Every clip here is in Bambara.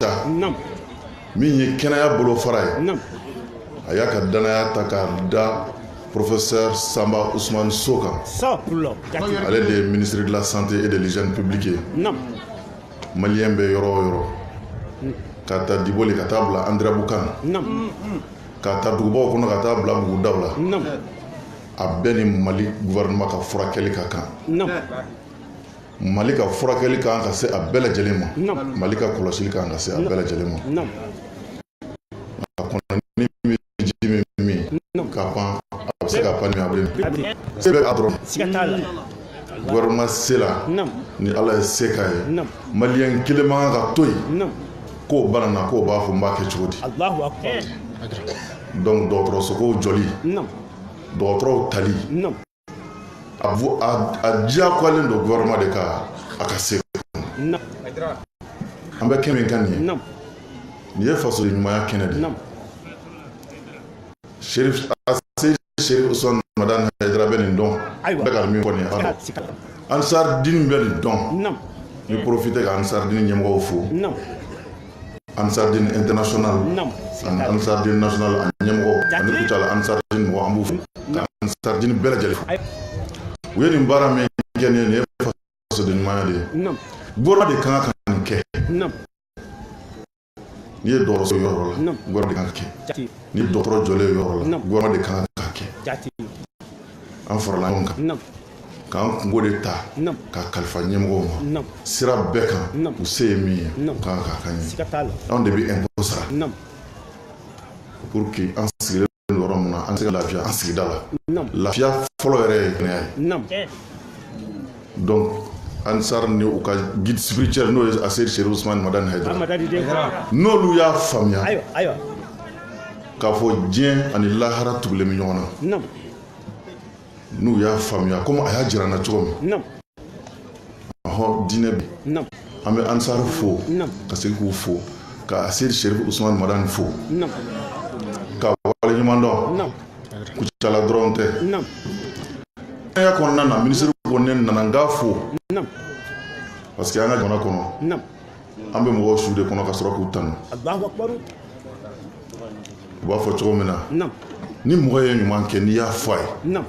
ta min ye kɛnɛya bolofara ye a y'a ka danaya ta k'a da professeur Samba Ousmane Sow kan ale de ye ministre de la santé et de l'hygiène publique ye maliyɛn bɛ yɔrɔ o yɔrɔ mm. ka ta Diboli ka taa bila Andéramboukane ka ta dugubaw kɔnɔ ka taa bila bugudaw la a bɛɛ ni mali gouvernement ka furakɛli ka kan Mali ka furakɛli ka kan ka se a bɛɛ lajɛlen ma Naamu Mali ka kɔlɔsili ka kan ka se a bɛɛ lajɛlen ma Naamu a kɔnɔnin min bɛ ji min min ka pan a bɛ se ka pan ni a bɛ min se bɛ a dɔrɔn siga t'a la gouvernement se la Naamu ni Ala ye se k'a ye Naamu maliyɛn kelen man kan ka to yen Naamu k'o banana k'o b'a fɔ n b'a kɛ cogo di Alahu akbar donc dɔgɔtɔrɔsokow jɔli Naamu dɔgɔtɔrɔw tali Naamu a diyagoyalen don gouvernement de kan a ka se an bɛ kɛnɛ min kan nin ye nin ye fasoden ɲumanya kɛnɛ de Cherif Aseid Cherif Ousmane Madani Haidara bɛ nin dɔn n bɛ ka min fɔ nin ye a dɔn Ansar Dine bɛ nin dɔn n bɛ profiter ka Ansar Dine ɲɛmɔgɔw fo Ansar Dine international Ansar Dine national a ɲɛmɔgɔ ani Kucala Ansar Dine mɔgɔ an b'u fo ka Ansar Dine bɛɛ lajɛlen fo u ye nin baara min kɛ nin ye nin ye fasoden ɲumanya de ye gouvernement de kan ka nin kɛ n'i ye dɔgɔtɔrɔso yɔrɔ la gouvernement de kan ka kɛ ni dɔgɔtɔrɔ jɔlen yɔrɔ la gouvernement de kan ka kɛ an farala ɲɔgɔn kan k'an kunko de ta ka kalifa ɲɛmɔgɔw ma sira bɛɛ kan u se ye min ye u kan k'a k'an ye anw de bɛ impôt sara pour que an sigilen don yɔrɔ min na an se ka lafiya an sigida la lafiya fɔlɔ yɛrɛ ye kɛnɛya ye donc Ansar ni u ka guide spirituel n'o ye Aseid Cherif Ousmane Madani Haidara n'olu y'a faamuya k'a fɔ diɲɛ ani lahara tugulen bɛ ɲɔgɔn na n'u y'a faamuya komi a y'a jira an na cogo min ɔhɔ diinɛ bi an bɛ Ansar fo ka segin k'u fo ka Aseid Cherif Ousmane Madani fo k'a waleɲumandɔn Kucala dɔrɔn tɛ kɛnɛya kɔnɔna na ministre ko ne nana n k'a fo parce que an ka jamana kɔnɔ an bɛ mɔgɔw su de kɔnɔ ka sɔrɔ k'u tanu u b'a fɔ cogo min na ni mɔgɔ ye ɲuman kɛ n'i y'a fɔ a ye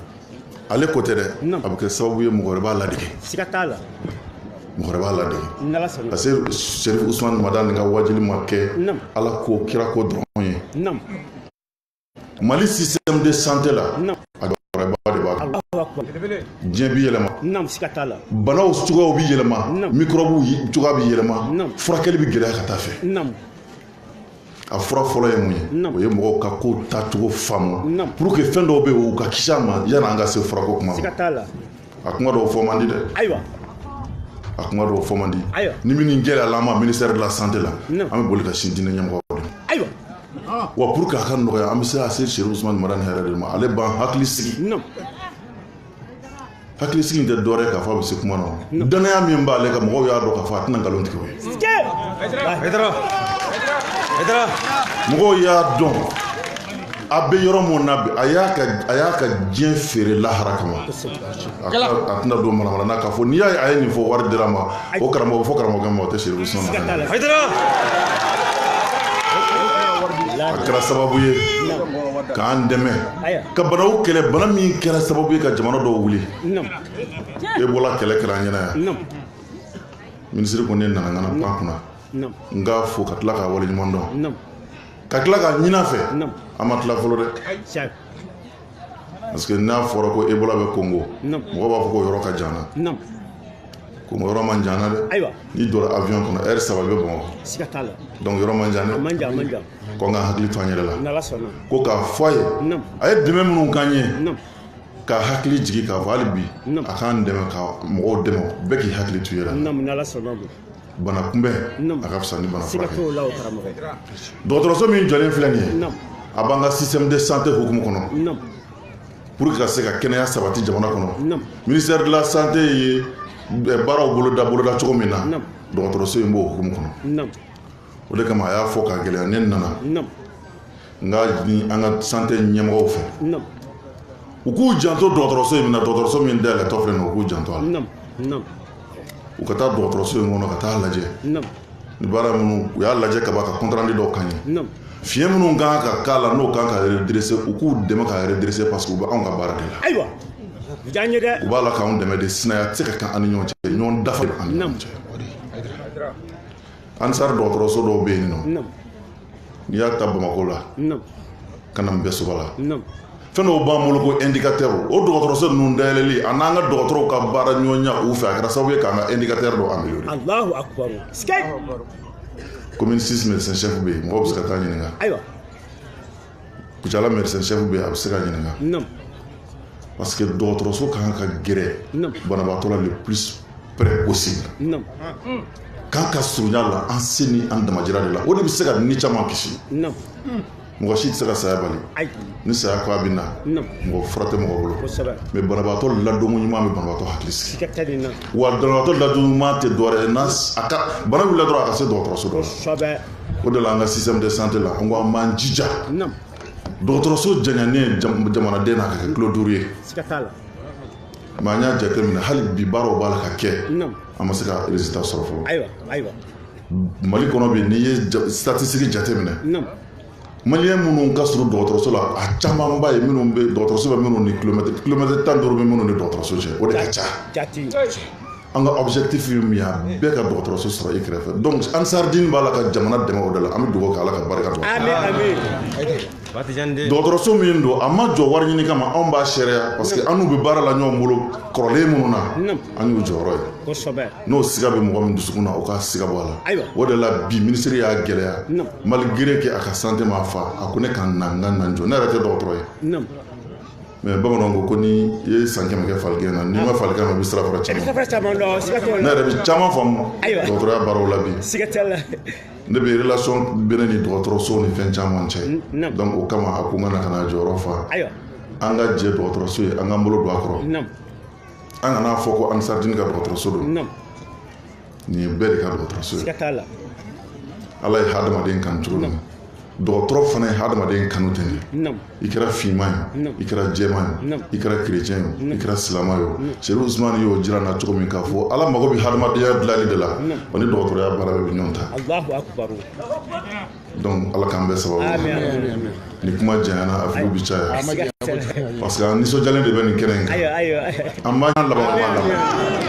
ale ko tɛ dɛ a bɛ kɛ sababu ye mɔgɔ wɛrɛ b'a ladege mɔgɔ wɛrɛ b'a ladege parce que Cherif Ousmane Madani ka waajuli ma kɛ Ala ko kira ko dɔrɔn ye mali système de santé la a dɔgɔyaba de b'a kan diɲɛ bi yɛlɛma banaw cogoyaw bi yɛlɛma microbew cogoya bi yɛlɛma furakɛli bi gɛlɛya ka taa fɛ a fura fɔlɔ ye mun ye o ye mɔgɔw ka ko tacogo faamu pour que fɛn dɔw bɛ yen u ka kisi a ma yanni an ka se furako kuma ma a kuma dɔw fɔ man di dɛ ayiwa a kuma dɔw fɔ man di ayiwa ni min gɛlɛyala an ma ministère de la santé la an bɛ boli ka sin diinɛ ɲɛmɔgɔw de ma ayiwa wa pour que a ka nɔgɔya an bɛ se ka se Chérif Ousmane Madani Haïdara de ma ale b'an hakili sigi hakili sigi in tɛ dɔwɛrɛ k'a fɔ a bɛ se kuma na o dannaya min b'ale kan mɔgɔw y'a dɔn k'a fɔ a tɛna nkalon tigɛ o ye mɔgɔw y'a dɔn a bɛ yɔrɔ min na bi a y'a ka a y'a ka diɲɛ feere lahara kama a ka- a tɛna don manamana na k'a fɔ n'i y'a ye a ye nin fɔ wari dira a ma o karamɔgɔ fɔ karamɔgɔkɛ ma o tɛ Chérif Ousmane Madani a kɛra sababu ye k'an dɛmɛ ka banaw kɛlɛ bana min kɛra sababu ye ka jamana dɔw wuli ebola kɛlɛ kɛra an ɲɛna yan minisiri ko ne nana n kana pan a kunna Naamu. n k'a fo ka tila k'a waleɲuman dɔn Naamu. ka tila k'a ɲin'a fɛ Naamu. an ma tila fɔlɔ dɛ Tiɲɛ. parce que n'a fɔra ko ebola bɛ kongo Naamu. mɔgɔ b'a fɔ ko yɔrɔ ka jan an na Naamu. kongo yɔrɔ man jan an na dɛ Ayiwa. n'i donna avion kɔnɔ heure saba i bɛ bamakɔ Siga t'a la. donc yɔrɔ man jan dɛ A man jan, a man jan. ko an ka hakili to an yɛrɛ la N'Ala sɔnna. ko k'a fɔ a ye Naamu. a ye dɛmɛ minnu k'an ye Naamu. ka hakili jigin k'a fɔ hali bi a k'an dɛmɛ ka mɔgɔw dɛmɛ bɛɛ k'i hakili to i yɛrɛ la bana kunbɛn a ka fisa ni bana furakɛ dɔgɔtɔrɔso min jɔlen filɛ nin ye a b'an ka système de santé hukumu kɔnɔ pour que ka se ka kɛnɛya sabati jamana kɔnɔ ministère de la santé ye baaraw boloda boloda cogo min na dɔgɔtɔrɔso in b'o hukumu kɔnɔ o de kama a y'a fɔ k'a gɛlɛya ne nana n k'a ɲini an ka santé ɲɛmɔgɔw fɛ u k'u janto dɔgɔtɔrɔso in na dɔgɔtɔrɔso min dayɛlɛtɔ filɛ u k'u janto a la u ka taa dɔgɔtɔrɔso in kɔnɔ ka taa lajɛ ni baara minnu u y'a lajɛ ka ban ka compte rendu dɔw k'an ye fiɲɛ minnu kan ka k'a la n'o kan ka redresser u k'u dɛmɛ ka redresser parce que u bɛ anw ka baara de la ayiwa u b'a la k'anw dɛmɛ de sinaya tɛ se ka kɛ an ni ɲɔgɔn cɛ ɲɔgɔn dafa de b'an ni ɲɔgɔn cɛ ansar dɔgɔtɔrɔso dɔw bɛ yen nɔ n'i y'a ta bamakɔ la ka na mpɛsoba la fɛn dɔw b'an bolo ko indicateur o dɔgɔtɔrɔso ninnu dayɛlɛli a n'an ka dɔgɔtɔrɔw ka baara ɲɔgɔnya u fɛ a kɛra sababu ye k'an ka indicateur dɔ améliorer Allahu akbar commune 6 médecin chef bɛ yen mɔgɔw bɛ se ka taa ɲininka ayiwa kucala médecin chef bɛ a bɛ se ka ɲininka non parce que dɔgɔtɔrɔso ka kan ka gɛrɛ banabaatɔ la le plus près possible ka kan ka surunya la an se ni an damajira de la o de bɛ se ka ni caman kisi non mɔgɔ si tɛ se ka saya bali ni saya ko a bɛ na mɔgɔ fura tɛ mɔgɔ bolo mais banabaatɔ ladonko ɲuman bɛ banabaatɔ hakili sigi wa banabaatɔ ladonko ɲuman tɛ dɔwɛrɛ ye n'a a ka bana wulila dɔrɔn a ka se dɔgɔtɔrɔso dɔ la o de la an ka système de santé la an ko an b'an jija dɔgɔtɔrɔso janya nin jamanaden na ka kɛ kilo duuru ye mais an y'a jateminɛ hali bi baaraw b'a la ka kɛ an ma se ka résultat sɔrɔ fɔlɔ mali kɔnɔ bi n'i ye statistique jateminɛ maliyɛn minnu ka surun dɔgɔtɔrɔso la a camanba ye minnu bɛ dɔgɔtɔrɔso bɛ minnu ni kilomɛtiri kilomɛtiri tan duuru bɛ minnu ni dɔgɔtɔrɔso cɛ o de ka ca an ka objectif ye min ye bɛɛ ka dɔgɔtɔrɔso sɔrɔ i kɛrɛfɛ donc ansardin b'a la ka jamana dɛmɛ o de la an bɛ dugawu kɛ ala ka barika don dɔgɔtɔrɔso min don a ma jɔ wari ɲini kama anw b'a seereya parce que an n'u bɛ baara la ɲɔgɔn bolo kɔrɔlen minnu na an y'u jɔyɔrɔ ye n'o siga bɛ mɔgɔ min dusukun na o ka siga bɔ a la o de la bi ministre y'a gɛlɛya malgré que a ka santé ma fa a ko ne ka na n ka na n jɔ ne yɛrɛ tɛ dɔgɔtɔrɔ ye mais bamananw ko ko ni i ye san kɛmɛ kɛ faligɛn na n'i ma faligɛn na i bɛ sirafara caman ne yɛrɛ bɛ caman faamu dɔgɔtɔrɔya baaraw la bi ne bɛ relation bɛ ne ni dɔgɔtɔrɔso ni fɛn caman cɛ donc o kama a ko n ka na ka na jɔyɔrɔ fa an ka jɛ dɔgɔtɔrɔso ye an k'an bolo don a kɔrɔ an kana fɔ ko ansardin ka dɔgɔtɔrɔso don nin ye bɛɛ de ka dɔgɔtɔrɔso ye siga t'a la ala ye hadamaden kanu cogo min dɔgɔtɔrɔ fana ye hadamaden kanu ten de i kɛra finman ye i kɛra jɛman ye i kɛra kerecɛn ye i kɛra silama ye o serifu usumani y'o jira an na cogo min k'a fɔ ala mago bɛ hadamadenya dilali de la o ni dɔgɔtɔrɔya baara bɛ ɲɔgɔn ta donc ala k'an bɛɛ sababu ni kuma janyana a filiw bɛ caya parce que an nisɔndiyalen de bɛ nin kɛnɛ in kan an b'an laban kuma laban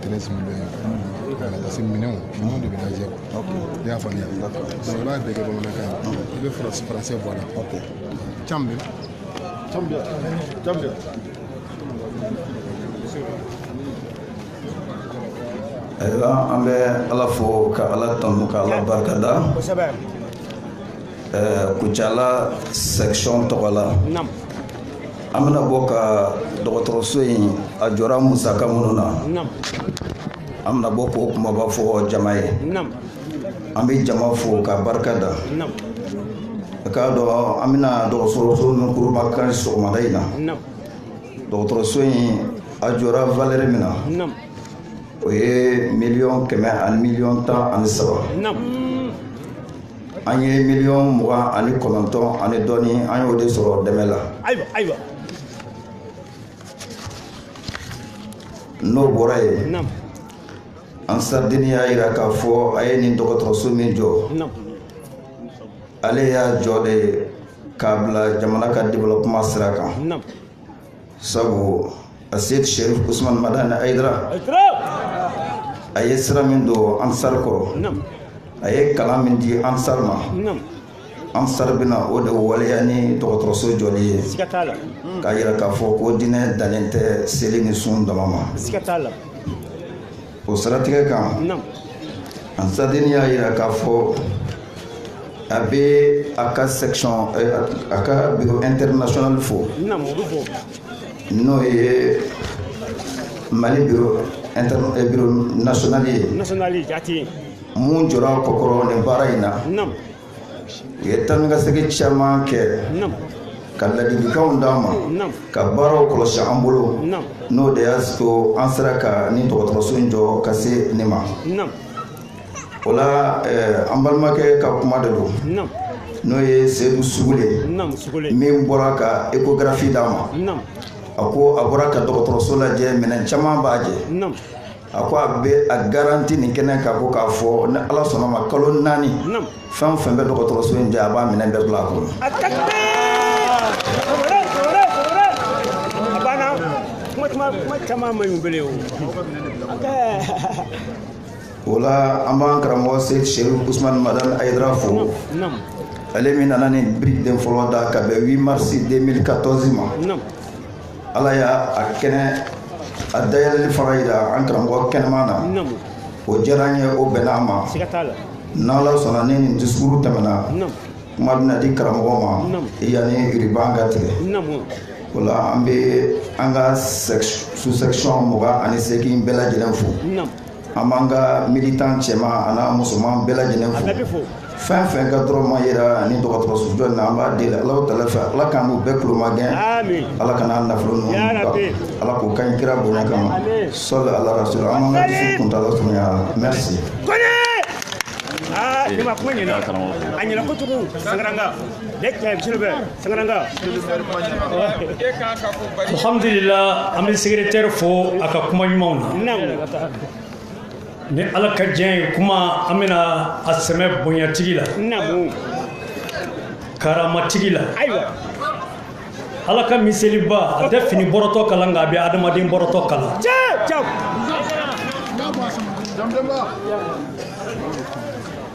treize millions voilà parce que minɛnw minɛnw de bɛ lajɛ i y'a faamuya donc i b'a bɛɛ kɛ bamanankan ye i bɛ faransi faransi bɔ a la can bɛ can bɛ can bɛ ayiwa an bɛ ala fo ka ala tanu ka ala barikada ɛɛ kucala section tɔgɔ la an bɛna bɔ ka dɔgɔtɔrɔso in a jɔra musaka minnu na an bɛna bɔ k'o kumaba fɔ jama ye an bɛ jama fo ka barika da k'a dɔn an bɛna dɔgɔtɔrɔso min kurunbonkari sɔgɔmada in na dɔgɔtɔrɔso in a jɔra valɛri min na o ye miliyɔn kɛmɛ ani miliyɔn tan ani saba an ye miliyɔn mugan ani kɔnɔntɔn ani dɔɔni an y'o de sɔrɔ dɛmɛ la ayiwa ayiwa n'o bɔra yen naamu ansardini y'a yira k'a fɔ a ye nin dɔgɔtɔrɔso min jɔ naamu ale y'a jɔ de k'a bila jamana ka développement sira kan naamu sabu aseyid sherif usman madani ayidara a ye sira min don ansar kɔrɔ a ye kalan min di ansar ma ansar bɛna o de waleya ni dɔgɔtɔrɔso jɔli ye k'a yira k'a fɔ ko diinɛ dannen tɛ seli ni sun dama ma o siratigɛ kan ansardini y'a yira k'a fɔ a bɛ a ka section a ka bureau international fo n'o ye mali bureau eh, bureau national ye min jɔra kɔkɔrɔ nin baara in na u ye taa ni ka segin caman kɛ ka ladilikanw d'an ma ka baaraw kɔlɔsi an bolo n'o de y'a to an sera ka nin dɔgɔtɔrɔso in jɔ ka se nin ma o la eh, an balimakɛ ka kuma de don n'o ye sedu sugule min bɔra ka échographie d'an ma a ko a bɔra ka dɔgɔtɔrɔso lajɛ minɛn caman b'a jɛ a ko a bɛ a garanti nin kɛnɛ kan ko k'a fɔ ni ala sɔnn'a ma kalo naani fɛn fɛn bɛ dɔgɔtɔrɔso in jɛ a b'a minɛn bɛɛ bila a kɔnɔ o la an b'an karamɔgɔ seyid sherif usman madani ayidara fo ale min nana nin biriki den fɔlɔ da ka bɛn 8 mars 2014 ma ala y'a a kɛnɛ a dayɛlɛli fana yira an karamɔgɔ kɛnɛman na o diyara an ye o bɛnna an ma n'ala sɔnna ni nin disukuru tɛmɛna kuma bɛna di karamɔgɔ ma yanni uriban ka tigɛ o la an bɛ an ka sous-section mugan ani seegin bɛɛ lajɛlen fo an b'an ka militan cɛman an'a musoman bɛɛ lajɛlen fo fɛn fɛn ka dɔrɔmɛ yera nin dɔgɔtɔrɔso jɔ na an b'a deli alahu taala fɛ ala k'an n'u bɛɛ kulomagɛn ala kana nafolo ninnu ala k'o ka ɲi kira bonya kama sɔli ala rasulu an b'an ka disukuru kuntala surunya ala merci karamɔgɔ a ɲɛna kojugu sangaran alhamdulila an bɛ secrétaire fo a ka kuma ɲumanw na ni ala ka diɲɛ ye kuma an bɛna a sɛmɛ bonyatigi la karamatigi la ala ka miseliba a tɛ fini bɔrɔtɔ kala nka a bɛ adamaden bɔrɔtɔ kala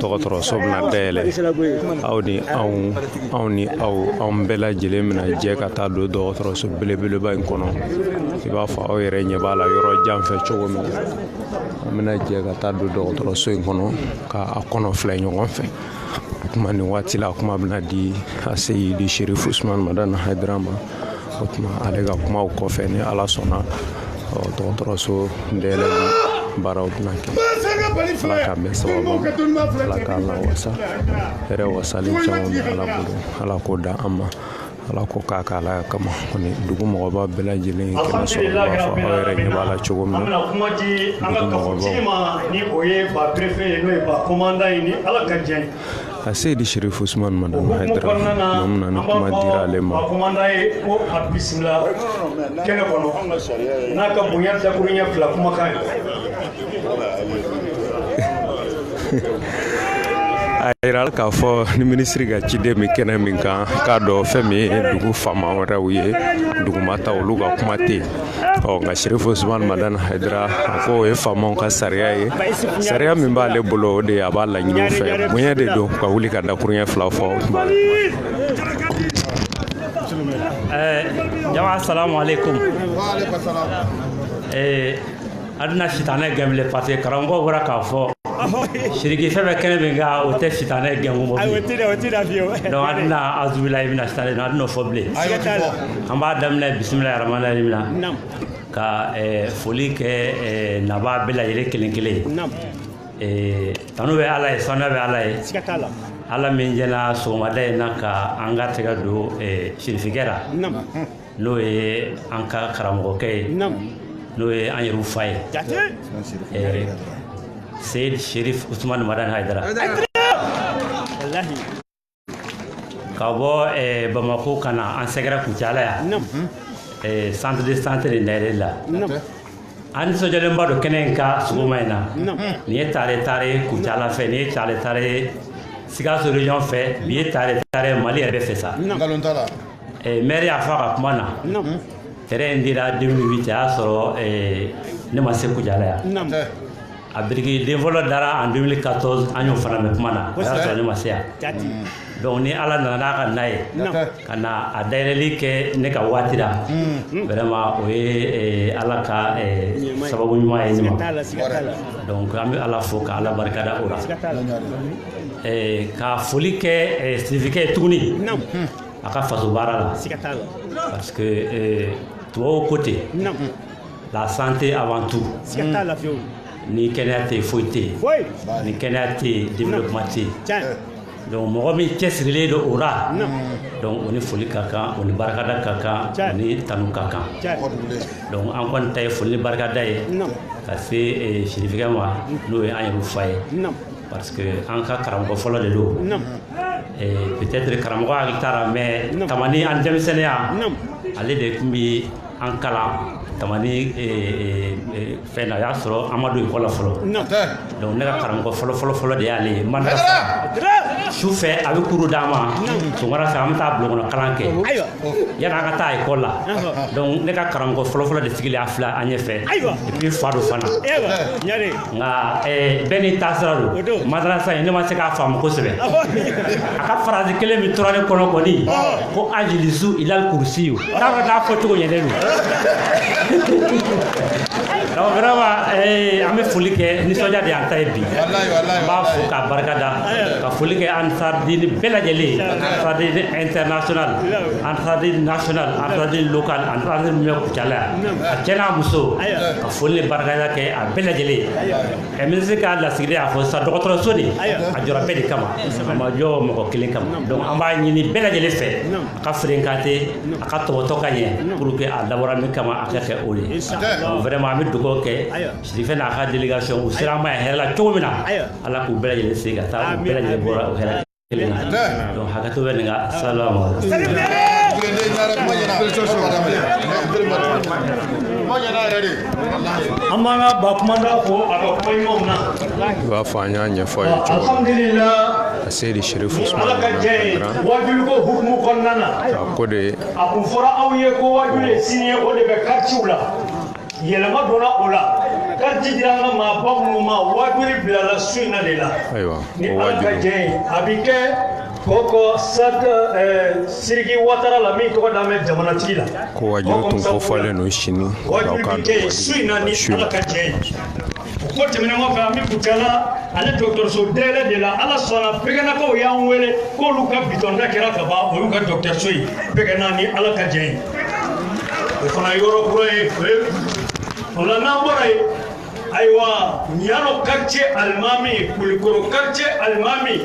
dɔgɔtɔrɔso bɛna dayɛlɛ aw ni anw anw ni aw anw bɛɛ lajɛlen bɛna jɛ ka taa don dɔgɔtɔrɔso belebeleba in kɔnɔ i b'a fɔ aw yɛrɛ ɲɛ b'a la yɔrɔ jan fɛ cogo min an bɛna jɛ ka taa don dɔgɔtɔrɔso in kɔnɔ ka a kɔnɔ filɛ ɲɔgɔn fɛ kuma nin waati la kuma bɛna di a seyidi sherif usman madani haidara ma o tuma ale ka kumaw kɔfɛ ni ala sɔnna dɔgɔtɔrɔso dayɛlɛli baaraw bɛna kɛ ala ka mɛn sababu ala k'a lawasa hɛrɛ wasali caman bɛ ala bolo ala k'o da an ma ala k'o k'a ka alaya kama kɔni dugu mɔgɔba bɛɛ lajɛlen ye kɛnɛ sɔrɔ b'a fɔ aw yɛrɛ ɲɛ b'a la cogo min na dugu mɔgɔbaw ni o ye ba perefe ye n'o ye ba komandan ye ni ala ka jɛ a seyidi sherif usman madani haidara bamanan na kuma dira ale ma ba komandan ye ko a bisimila kɛnɛ kɔnɔ n'a ka bonya dakuruɲɛ fila kumakan ye a yira k'a fɔ ni minisiri ka ciden bɛ kɛnɛ min kan k'a dɔn fɛn min ye dugu faama wɛrɛw ye dugumata olu ka kuma tɛ yen ɔ nka sirifu usumani madani hayidara a ko o ye faamaw ka sariya ye sariya min b'ale bolo o de a b'a laɲini fɛ bonya de don ka wuli ka dakuruɲɛ fila fɔ jama salamu aleykum An tɛna sitanɛ gɛn bilen parce que karamɔgɔ bɔra k'a fɔ sirifikɛ bɛ kɛnɛ min kan o tɛ sitanɛ gɛn ko bilen donc an tɛna awuzubilahi mina sitanɛ an tɛna o fɔ bilen an b'a daminɛ bisimilahi rahmani rahim n bɛna ka foli kɛ nabaa bɛɛ lajɛlen kelen kelen ye tanu bɛ ala ye saniya bɛ ala ye ala min jɛnna sɔgɔmada in na ka an ka tɛgɛ don sirifikɛ la n'o ye an ka karamɔgɔkɛ ye n'o ye an yɛrɛw fa ye seyidi sherif usumani madani haidara ka bɔ bamakɔ ka na an sɛgɛrɛ kucala yan centre de santé nin dayɛlɛ la an nisɔndiyalenba don kɛnɛ in kan sɔgɔma in na nin ye tare tare kucala fɛ nin ye tare tare sikaso region fɛ nin ye tare tare mali yɛrɛ bɛɛ fɛ sa Eh, mɛri y'a fɔ a ka kuma na terrain in dira 2008 a y'a sɔrɔ eh, ne ma se kucala yan a biriki den fɔlɔ dara en 2014 an y'o fana mɛn kuma na a y'a sɔrɔ ne ma se yan donc ni ala nana n'a ka na ye ka na a dayɛlɛli kɛ ne ka waati la mm. vraiment o ye eh, ala ka sababu ɲuman ye ne ma donc an bɛ ala fo ka ala barikada o la ka foli kɛ sirifikɛ ye tuguni a ka faso baara la parce que eh, tubabu ko ten la santé avant tout ni kɛnɛya tɛ foyi tɛ yen ni kɛnɛya tɛ yen développement tɛ yen donc mɔgɔ min cɛsirilen don o la donc o ni foli ka kan o ni barikada ka kan o ni tanu ka kan donc an kɔni ta ye foli ni barikada ye ka se eh, sirifikɛ ma n'o ye an yɛrɛw fa ye parce que an ka karamɔgɔ fɔlɔ de don peut-être karamɔgɔ hakili t'a la mais tamani an denmisɛnninya ale de tun bɛ an kalan tamani fɛn na o y'a sɔrɔ an ma don école la fɔlɔ donc ne ka karamɔgɔ fɔlɔ fɔlɔ fɔlɔ de y'ale ye ma su fɛ a bɛ cours d'an ma sɔgɔmada fɛ an bɛ taa bulon kɔnɔ kalan kɛ yanni an ka taa école la donc ne ka karamɔgɔ fɔlɔfɔlɔ de sigilen a filɛ an ɲɛ fɛ et puis fa don fana nka bɛɛ n'i taasira don madarasa in ne ma se k'a faamu kosɛbɛ a ka phrase kelen min tora ne kɔnɔ kɔni ko ajilisu ilal kursiyu t'a dɔn n'a fɔ cogo ɲɛnen don donc vraiment an bɛ foli kɛ nisɔndiya de y'an ta ye bi n b'a fo k'a barika da ka foli kɛ Ansardine bɛɛ lajɛlen Ansardine international Ansardine national Ansardine local Ansardine min bɛ kucala yan a cɛ n'a muso foli ni barikada kɛ a bɛɛ lajɛlen ye ɛ minisiri ka lasigiden y'a fɔ sisan dɔgɔtɔrɔso nin a jɔra bɛɛ de kama a ma jɔ mɔgɔ kelen kama donc an b'a ɲini bɛɛ lajɛlen fɛ a ka fréquenté a ka tɔpɔtɔ ka ɲɛ pour que a dabɔra min kama a ka kɛ o ye donc vraiment an bɛ dugawu kɛ sirifikɛ n'a ka délégation u sera an ma yan hɛrɛ la cogo min na ala k'u bɛɛ lajɛlen se ka taa u bɛɛ lajɛlen bɔra o hɛrɛ kelen donc hakɛto bɛ nin ka salamu aleyikum an b'an ka ba kumanda fo a ka kuma ɲumanw na i b'a fɔ an y'a ɲɛfɔ a ye cogo alhamdulila a seyidi sirifu usumani ala ka jɛ ye wajuliko hukumu kɔnɔna na a ko de a kun fɔra aw ye ko wajuli ye sini ye o de bɛ karitiw la yɛlɛma donna o la kariti dira an ka maaba minnu ma waajuli bilala su in na de la ni ala ka jɛ ye a bɛ kɛ koko stade eh, siriki watara la min tɔgɔ dalen bɛ jamanatigi la ko waajuli tun kofɔlen don sini waajuli bɛ kɛ su in na ni ala ka jɛ ye o ko tɛmɛnen kɔfɛ an bɛ kucala ale dɔgɔtɔrɔso dayɛlɛ de la ala sɔnna bɛgɛnakaw y'an wele k'olu ka bitɔnda kɛra ka ban o y'u ka dɔgɔtɔrɔso ye bɛgɛna ni ala ka jɛ ye o fana yɔrɔ kura ye o la n'an bɔra yen ayiwa ɲano quartier alimami kulikoro quartier alimami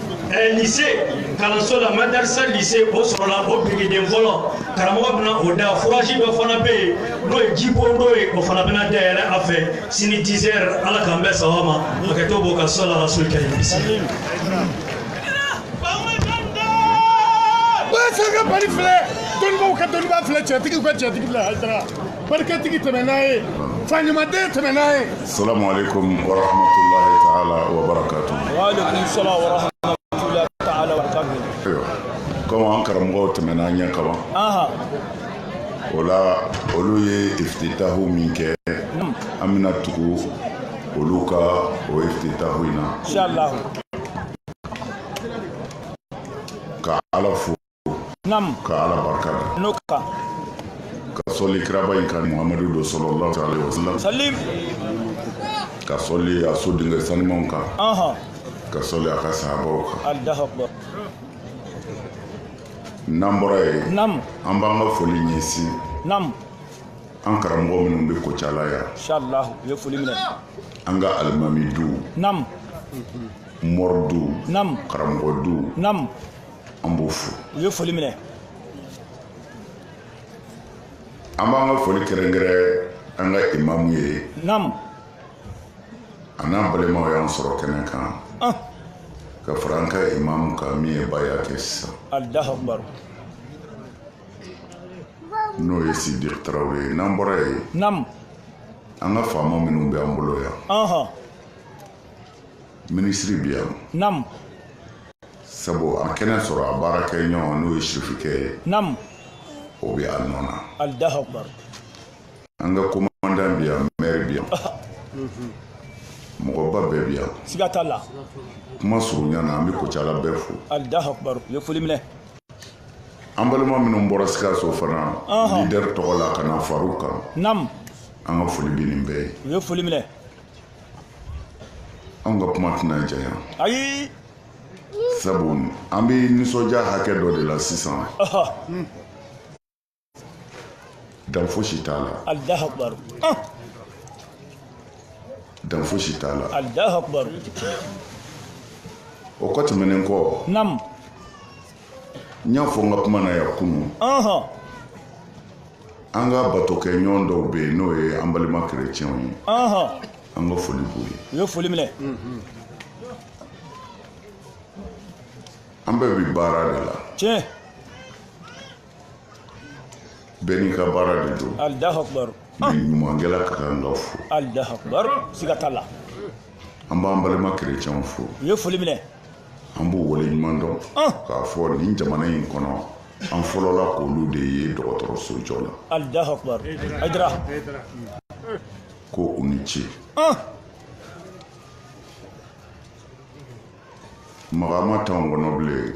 Eh, lise kalanso la madarisa lise o sɔrɔla o birikiden fɔlɔ karamɔgɔ bɛna o da foraji dɔ fana bɛ yen n'o ye jibon dɔ ye o fana bɛna dayɛlɛ a fɛ sini dizɛri ala k'an bɛɛ sawa ma hakɛto b'o ka sɔla rasul karim sangabali filɛ dɔnnibaw ka dɔnniba filɛ cɛtigiw ka cɛtigi filɛ hayidara barikatigi tɛmɛ n'a ye faɲumaden tɛmɛ n'a ye salamu aleykum wa rahmatulahi taala wa barakatu komi an karamɔgɔw tɛmɛna an ɲɛ kaban o la olu ye ifititahu min kɛ hmm. an bɛna tugu olu ka o ifititahu in na ka ala fo nam ka ala barika da n'o kan ka sɔli kiraba in kan muhamadu don salalahu aleyhi wasalam salim ka sɔli a sodenkɛ sanimanw kan anhan ka sɔli a ka sahabaw kan allahu akbar n'an bɔra yen nam an b'an ka foli ɲɛsin nam an karamɔgɔ minnu bɛ kucala yan inshallah u ye foli minɛ an ka alimami du nam mɔri du nam karamɔgɔ du nam an b'o fo u ye foli minɛ an b'an ka foli kɛrɛnkɛrɛn an ka imamu ye nam a n'an balimaw y'an sɔrɔ kɛnɛ kan ah ka fara an ka imamu kan min ye bayan kɛ sisan allahu akbar n'o ye sidi tarawele ye n'an bɔra yen nam an ka faama minnu bɛ an bolo yan aha minisiri bɛ yan nam sabu a ma kɛnɛ sɔrɔ a baarakɛɲɔgɔn n'o ye sirifikɛ ye nam o bɛ a nɔ na allahu akbar an ka komandan bi yan mɛri bi yan mɔgɔba bɛɛ bi yan siga t'a la kuma surunya na an bɛ kucala bɛɛ fo allahu akbar u ye foli minɛ an balima minnu bɔra sikaso fana leader tɔgɔ la ka na far'u kan nam an ka foli bɛ nin bɛɛ ye u ye foli minɛ anw ka kuma tɛna janya ayi sabu an bɛ nisɔndiya hakɛ dɔ de la sisan dan fosi t'a la alahu akubaru dan fosi t'a la alahu akubaru o kɔ tɛmɛnen kɔ nam n y'a fɔ n ka kuma na yan kunun an ka batokɛɲɔgɔn dɔw bɛ yen n'o ye an balima kerecɛnw ye an ka foli b'u ye u ye foli minɛ an bɛɛ bi baara de la tiɲɛ bɛɛ n'i ka baara de don alahu akubaru nin ɲumankɛla ka kan ka fo alahu akubaru siga t'a la an b'an balima kerecɛnw fo u ye foli minɛ an b'u wale ɲuman dɔn k'a fɔ nin jamana in kɔnɔ an fɔlɔla k'olu de ye dɔgɔtɔrɔso jɔ la ko u ni ce magama t'anw kɔnɔ bilen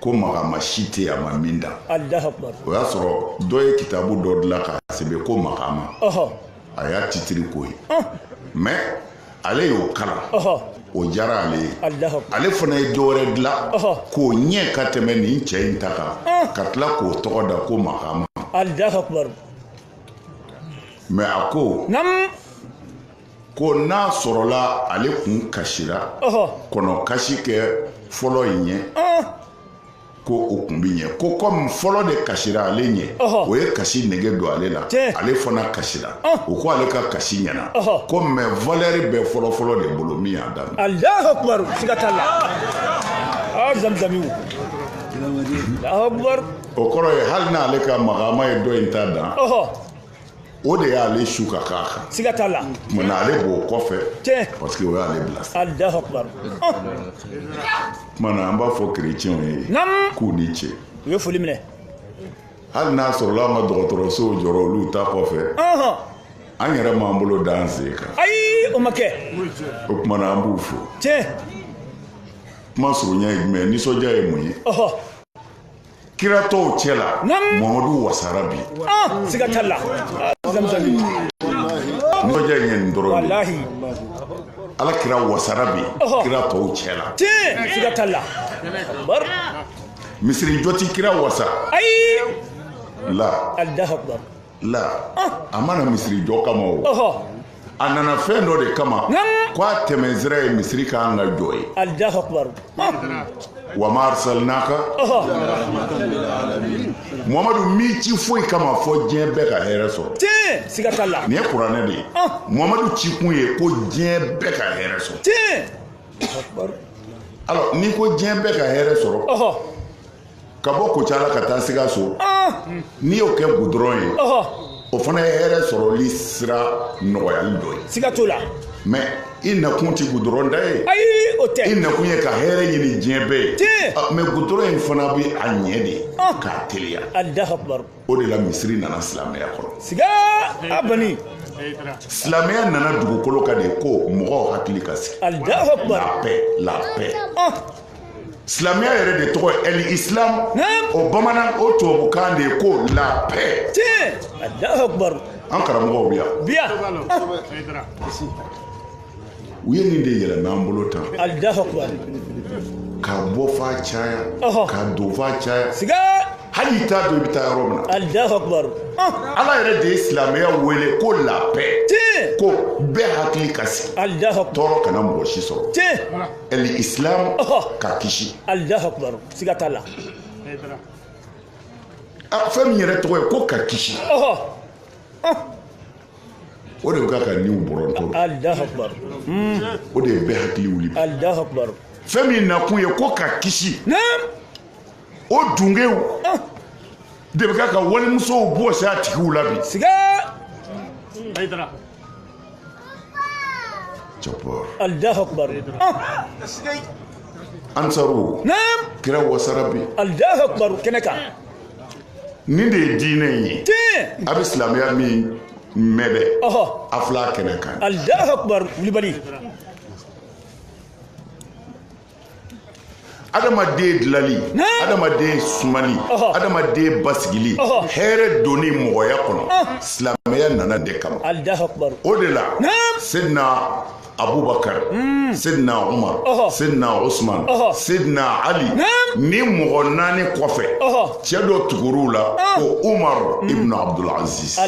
ko magama si tɛ yen a ma min dan o y'a sɔrɔ dɔ ye kitabu dɔ dilan k'a sɛbɛn ko magama a y'a titiri k'o ye mɛ ale y'o kalan o diyara ale ye ale fana ye dɔ wɛrɛ dilan k'o ɲɛ ka tɛmɛ nin cɛ in ta kan ka tila k'o tɔgɔ da ko magama mɛ a ko ko n'a sɔrɔla ale kun kasira kɔnɔ kasi kɛ fɔlɔ in ɲɛ ko o kun bi ɲɛ ko kɔmi fɔlɔ de kasira ale ɲɛ o ye kasi nege don ale la ale fana kasira o ko ale ka kasi ɲɛna ko mɛ valɛri bɛ fɔlɔfɔlɔ de bolo min y'a daminɛ alahu akubaru siga t'a la zamzamiw alahu akubaru o kɔrɔ ye hali n'ale ka magama ye dɔ in ta dan o de y'ale su ka k'a kan siga t'a la mɛ ale b'o kɔfɛ tiɲɛ parce que o y'ale bila sira alahu akubar o kama an b'a fɔ kerecɛnw ye k'u ni ce u ye foli minɛ hali n'a sɔrɔla an ka dɔgɔtɔrɔsow jɔra olu ta kɔfɛ an yɛrɛ m'an bolo da an sen kan ayi o ma kɛ o kama an b'u fo tiɲɛ kuma surunya ye jumɛn ye nisɔndiya ye mun ye kira tɔw cɛ la mamadu wasara bi ah, siga t'a la nisɔndiya in ye nin dɔrɔn de ye ala kira wasara bi kira tɔw cɛ la siga t'a la misiri jɔ ti kira wasa ayi la la a ma na misiri jɔ kama o a nana fɛn dɔ de kama ko a tɛmɛ sira ye misiri ka kan ka jɔ ye wa ma arsalnaka muhamadu m'i ci foyi kama fɔ diɲɛ bɛɛ ka hɛrɛ sɔrɔ tiɲɛ siga t'a la nin ye kuranɛ de ye muhamadu ci kun ye ko diɲɛ bɛɛ ka hɛrɛ sɔrɔ tiɲɛ alors n'i ko diɲɛ bɛɛ ka hɛrɛ sɔrɔ ka bɔ kucala ka taa sikaso ah! n'i y'o kɛ gudɔrɔn ye o fana ye hɛrɛ sɔrɔli sira nɔgɔyali dɔ ye siga t'o la mɛ i nakun tɛ gudɔrɔn da ye ayi o tɛ i nakun ye ka hɛrɛ ɲini diɲɛ bɛɛ ye tiɲɛ ah, mɛ gudɔrɔn in fana bɛ a ɲɛ de ah! k'a teliya alahu akubaru o de la misiri nana silamɛya kɔnɔ siga a bani silamɛya nana dugukolo kan de ko mɔgɔw hakili ka sigi alahu akubaru la paix la paix silamɛya yɛrɛ de tɔgɔ ye ɛli islam o bamanan o tubabukan de ye ko la paix an karamɔgɔw bi yan bi yan u ye nin de yɛlɛmɛ an bolo tan k'a bɔ f'a caya k'a don f'a caya hali i t'a dɔn i bɛ taa yɔrɔ min na ala yɛrɛ de ye silamɛya wele ko la paix ko bɛɛ hakili ka sigi tɔɔrɔ kana mɔgɔ si sɔrɔ ɛli isilamu ka kisi. alahu akubaru siga t'a la. fɛn min yɛrɛ tɔgɔ ye ko ka kisi. o de bɛ ka ka niw bɔrɔntɔ. alahu akubaru. o de ye bɛɛ hakili wuli. alahu akubaru. fɛn min nakun ye ko ka kisi. naam. o denkɛw de bɛ ka ka walimusow bɔsi a tigiw la bi ansaru kira wasara bi kɛnɛ kan nin de ye diinɛ in ye a bɛ silamɛya min mɛn dɛ a filɛ kɛnɛ kan wulibali adamaden dilali adamaden sumali adamaden basigili hɛrɛ donni mɔgɔya kɔnɔ silamɛya nan'o de kama o de la sedina abubakar hmm. sedina umar sedina usman sedina ali nin mɔgɔ naani kɔfɛ cɛ dɔ tugur'u la ko umar hmm. ibn abdul aziz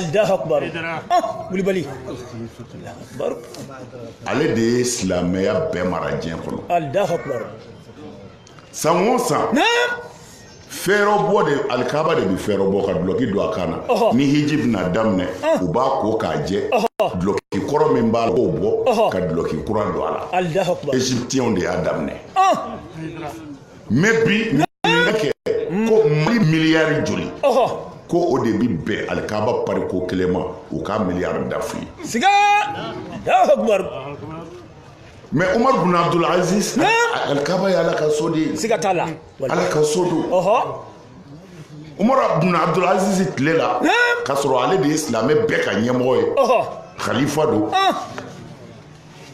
ale de ye silamɛya bɛɛ mara diɲɛ kɔnɔ san o san fɛɛrɛbɔ de alikaba de bɛ fɛɛrɛbɔ ka dulɔki don a kan na ni hiji bɛna daminɛ u b'a ko k'a jɛ dulɔki kɔrɔ min b'a la k'o bɔ ka dulɔki kura don a la eziptiyɛnw de y'a daminɛ mɛ bi ɲininkali kɛ ko mali miliyari joli ko o de bi bɛn alikaba pari ko kelen ma u ka miliyari dafu ye siga mɛ umar bin abdul aziz alikaba ye ala ka so de ye siga t'a la ala ka so don umar bin abdul aziz tile la k'a sɔrɔ ale de ye silamɛ bɛɛ ka ɲɛmɔgɔ ye khalifa don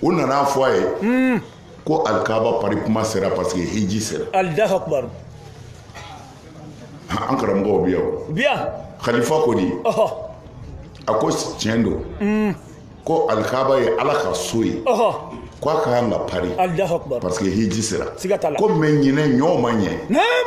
u nan'a fɔ a ye ko alikaba pari kuma sera parce que hiji sera alahu akubaru an karamɔgɔw bi yan u bi yan khalifa ko di ɔhɔ a ko tiɲɛ don mm. ko alikaba ye ala ka so ye ɔhɔ ko a ka kan ka pari alahu akubaru parce que hiji sera siga t'a la ko mɛ ɲinan ɲɔw ma ɲɛ naam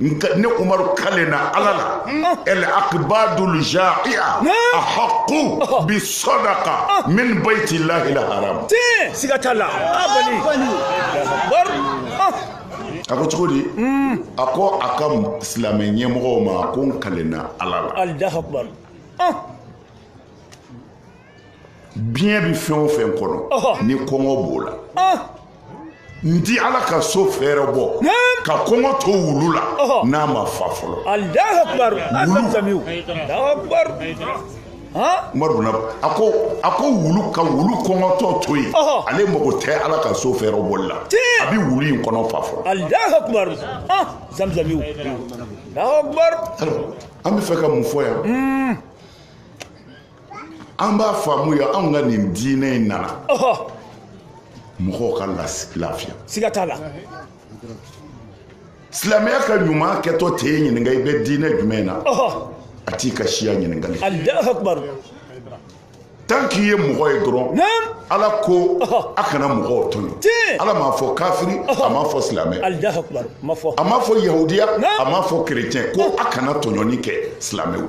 ne umaru kalenna ala la el akbadul jaia ahaqu bi sadaqa min baiti llahil haram siga t'a la a ko cogo di a ko a ka silamɛ ɲɛmɔgɔw ma ko n kalenna ala la biɲɛ bi fɛn o fɛn kɔnɔ ni kɔngɔ b'o la n ti ala ka so fɛɛrɛbɔ ka kɔngɔ to wulu la n'a ma fa fɔlɔ umaru na a ko a ko wulu ka wulu kɔngɔtɔ to yen ale mago tɛ ala ka so fɛɛrɛbɔli la a bɛ wulu in kɔnɔ fa fɔlɔ an bɛ fɛ ka mun fɔ yan an b'a faamuya anw ka nin diinɛ in nana mɔgɔw ka lafiya siga t'a la silamɛya ka ɲuman kɛtɔ tɛ e ɲininka i bɛ diinɛ jumɛn na a t'i ka siya ɲininkali tant k'i ye mɔgɔ ye dɔrɔn ala ko a kana mɔgɔw tɔɲɔ ala m'a fɔ kafiri a m'a fɔ silamɛ a m'a fɔ yahudi a m'a fɔ kerecɛn ko a kana tɔɲɔni kɛ silamɛw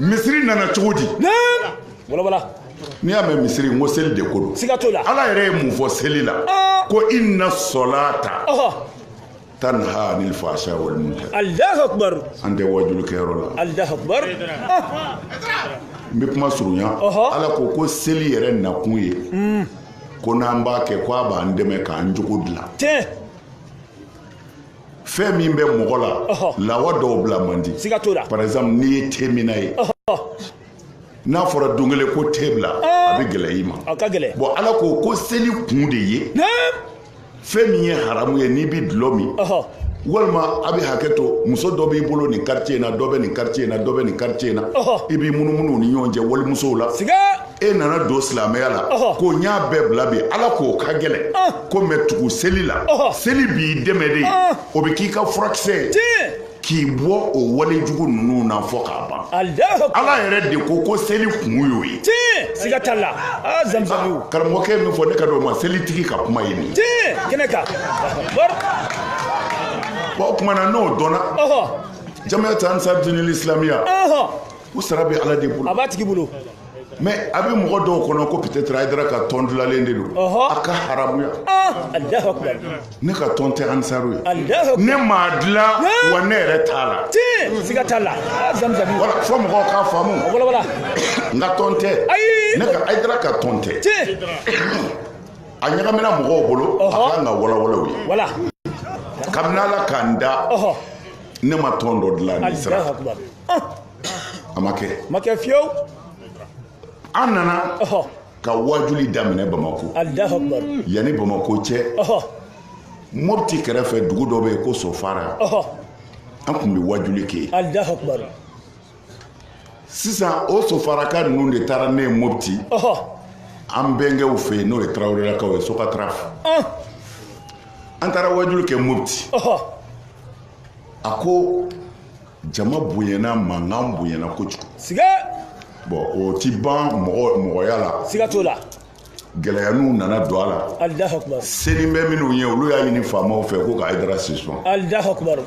misiri nana cogo di n'i y'a mɛn misiri n ko seli de ko don ala yɛrɛ ye mun fɔ seli la ah. ko inna solata tanha anil fahsha wal munkar Allahu akbar an tɛ wajulu kɛyɔrɔ la Allahu akbar n bɛ kuma surunya ala ko ko seli yɛrɛ nakun ye hmm. ko n'an b'a kɛ ko a b'an dɛmɛ k'an jogo dilan fɛn min bɛ mɔgɔ la lawa dɔw bila man di par exemple n'i ye teminna ye n'a fɔra don kelen ko te bila a bɛ gɛlɛya i ma bon ala ko ko seli kun de ye fɛn min ye haramu ye n'i bɛ dulɔ min walima a bɛ hakɛ to muso dɔ b'i bolo nin quartier in na dɔ bɛ nin quartier in na dɔ bɛ nin quartier in na i b'i munumunu u ni ɲɔgɔn cɛ walimusow la e nana don silamɛya la ko n y'a bɛɛ bila bi ala k'o ka gɛlɛn ko mais tugu seli la seli b'i dɛmɛ de o bɛ k'i ka furakisɛ k'i bɔ o wale jugu ninnu na fɔ k'a ban ala yɛrɛ de ko ko seli kun y'o ye siga t'a la ah, ah, karamɔgɔkɛ min fɔ ne ka don ma selitigi ka kuma ye nin kɛnɛ kan o kumana n'o dɔnna jamiyat ansar dinil islamiya u sara bɛ ala de bolo a b'a tigi bolo mais a bɛ mɔgɔ dɔw kɔnɔ ko peut-être ayidara ka tɔn dilalen de don a ka haramuya ah, ne ka tɔn tɛ ansaru ye ne m'a dilan wa ne yɛrɛ t'a la siga t'a la ah, wala fɔ mɔgɔw k'a faamu n ka tɔn tɛ ne ka ayidara ka tɔn tɛ a ɲagamina mɔgɔw bolo a kan ka walawala u ye kabini ala k'an da ne ma tɔn dɔ dilan ni sira a ma kɛ ma kɛ fiyewu an nana ka wajuli daminɛ bamako yanni bamako cɛ mopti kɛrɛfɛ dugu dɔ bɛ yen ko sofara an tun bɛ wajuli kɛ yen sisan o sofaraka ninnu de taara ne ye mopti an bɛnkɛw fɛ yen n'o ye tarawelelakaw ye sokataraf an taara wajuli kɛ mopti a ko jama bonyana mankan bonyana kojugu siga bon o ti ban mɔgɔ mɔgɔya la siga t'o la gɛlɛyaniw nana don a la alahu akubaru senin bɛ minnu ye olu y'a ɲini faamaw fɛ ko ka ayidara suspend alahu akubaru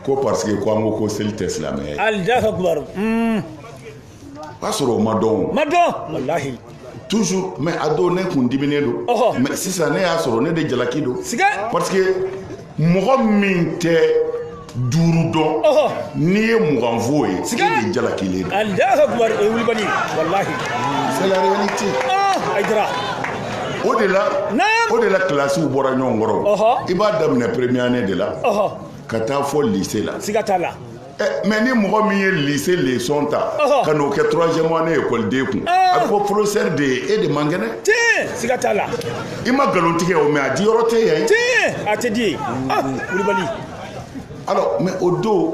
ko parce que ko an ko ko seli tɛ silamɛya ye alahu akubaru o y'a sɔrɔ o ma dɔn o ma dɔn walahi toujours mais a don ne kun diminen don Ɔhɔ. mais sisan ne y'a sɔrɔ ne de jalaki don siga parce que mɔgɔ min tɛ duuru dɔn Ɔhɔ. n'i ye mugan f'o ye Siga. e de jalakilen don alahu akubar o ye wulibali walahi c'est la réalité ah ayidara o de la Naam. o de la kilasiw bɔra ɲɔgɔn kɔrɔ Ɔhɔ. i b'a daminɛ première année de la ɔhɔ ka taa fo lycée la siga t'a la Eh, mais ni mɔgɔ min ye lycée leçon ta ka n'o kɛ troisième année ekɔliden kun ah. a ko professeur de ye e de man kɛnɛ siga t'a la i ma nkalon tigɛ o mais a di yɔrɔ tɛ yan a tɛ di ye ah, wulibali alors mais o don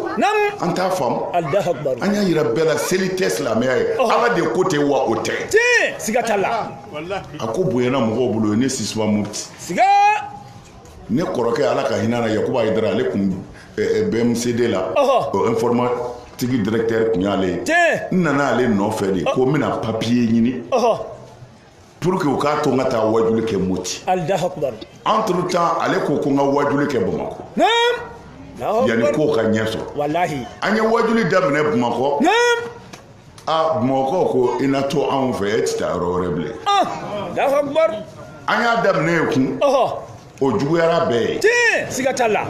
an t'a faamu an y'a yira bɛɛ la seli tɛ silamɛya ye ala de ko ten wa o tɛ siga t'a la a ko bonyana mɔgɔw bolo o ye ne suspend moti ne kɔrɔkɛ ala ka hinɛ na yakuba ayidara ale kun bmcd la o informatique directeur kun y'ale ye n nana ale nɔfɛ de ko n bɛna papiye ɲini pour que u k'a to n ka taa wajuli kɛ moti entre temps ale ko ko n ka wajuli kɛ bamakɔ yanni ko ka ɲɛ sɔrɔ an ye wajuli daminɛ bamakɔ aa bamakɔ ko i na to anw fɛ e tɛ taa yɔrɔ wɛrɛ bilen an y'a daminɛ yen kun o juguyara bɛɛ ye tiɲɛ siga t'a la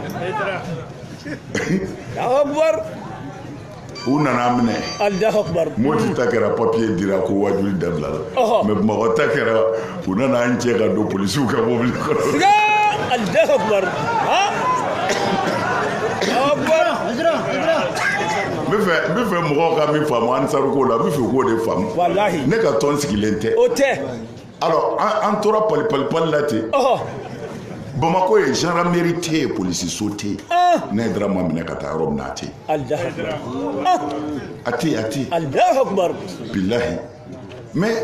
u nana minɛ moti ta kɛra papiye dira ko wajuli dabilala mais bamakɔ ta kɛra u nana an cɛ ka don polisiw ka mobili kɔnɔ siga alahu akubar ha n bɛ fɛ n bɛ fɛ mɔgɔw ka min faamu ansaru ko la n bɛ fɛ k'o de faamu walahi ne ka tɔn sigilen tɛ o tɛ alors an an tora pali pali pali la ten ɔhɔ bamakɔ ye gendarmerie tɛ yen polisiso tɛ yen ah ne ayidara ma minɛ ka taa yɔrɔ min na a tɛ yen alahu akubar ah a tɛ yen a tɛ yen alahu akubar bilahi mais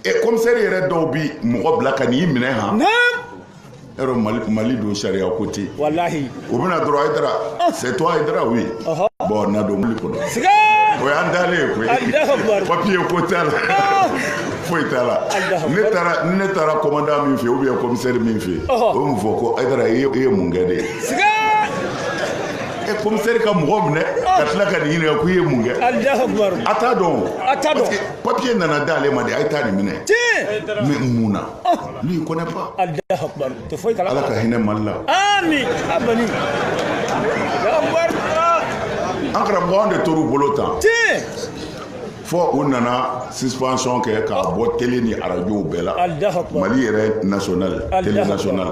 ɛ kɔmisɛri yɛrɛ dɔw bi mɔgɔ bila ka n'i minɛ han yɔrɔ mali mali don sariya ko tɛ walahi o bɛ na dɔrɔn ayidara c'est toi ayidara oui bon na don mobili kɔnɔ o y'an taalen ye koyi papiye ko t'a la foyi t'a la ne taara ni ne taara kɔmandan min fɛ yen ubiyɛn kɔmisɛri min fɛ yen o bɛ mun fɔ ko ayidara i ye mun kɛ de kɔmisɛri ka mɔgɔ minɛ ka tila ka nin ɲininka ko i ye mun kɛ a t'a dɔn papiye nana d'ale ma de a ye taa nin minɛ mɛ mun na lui il connaît pas ala ka hinɛ mali la an karamɔgɔ an de tor'u bolo tan fɔ u nana suspension kɛ k'a bɔ tele ni arajow bɛɛ la mali yɛrɛ national tele national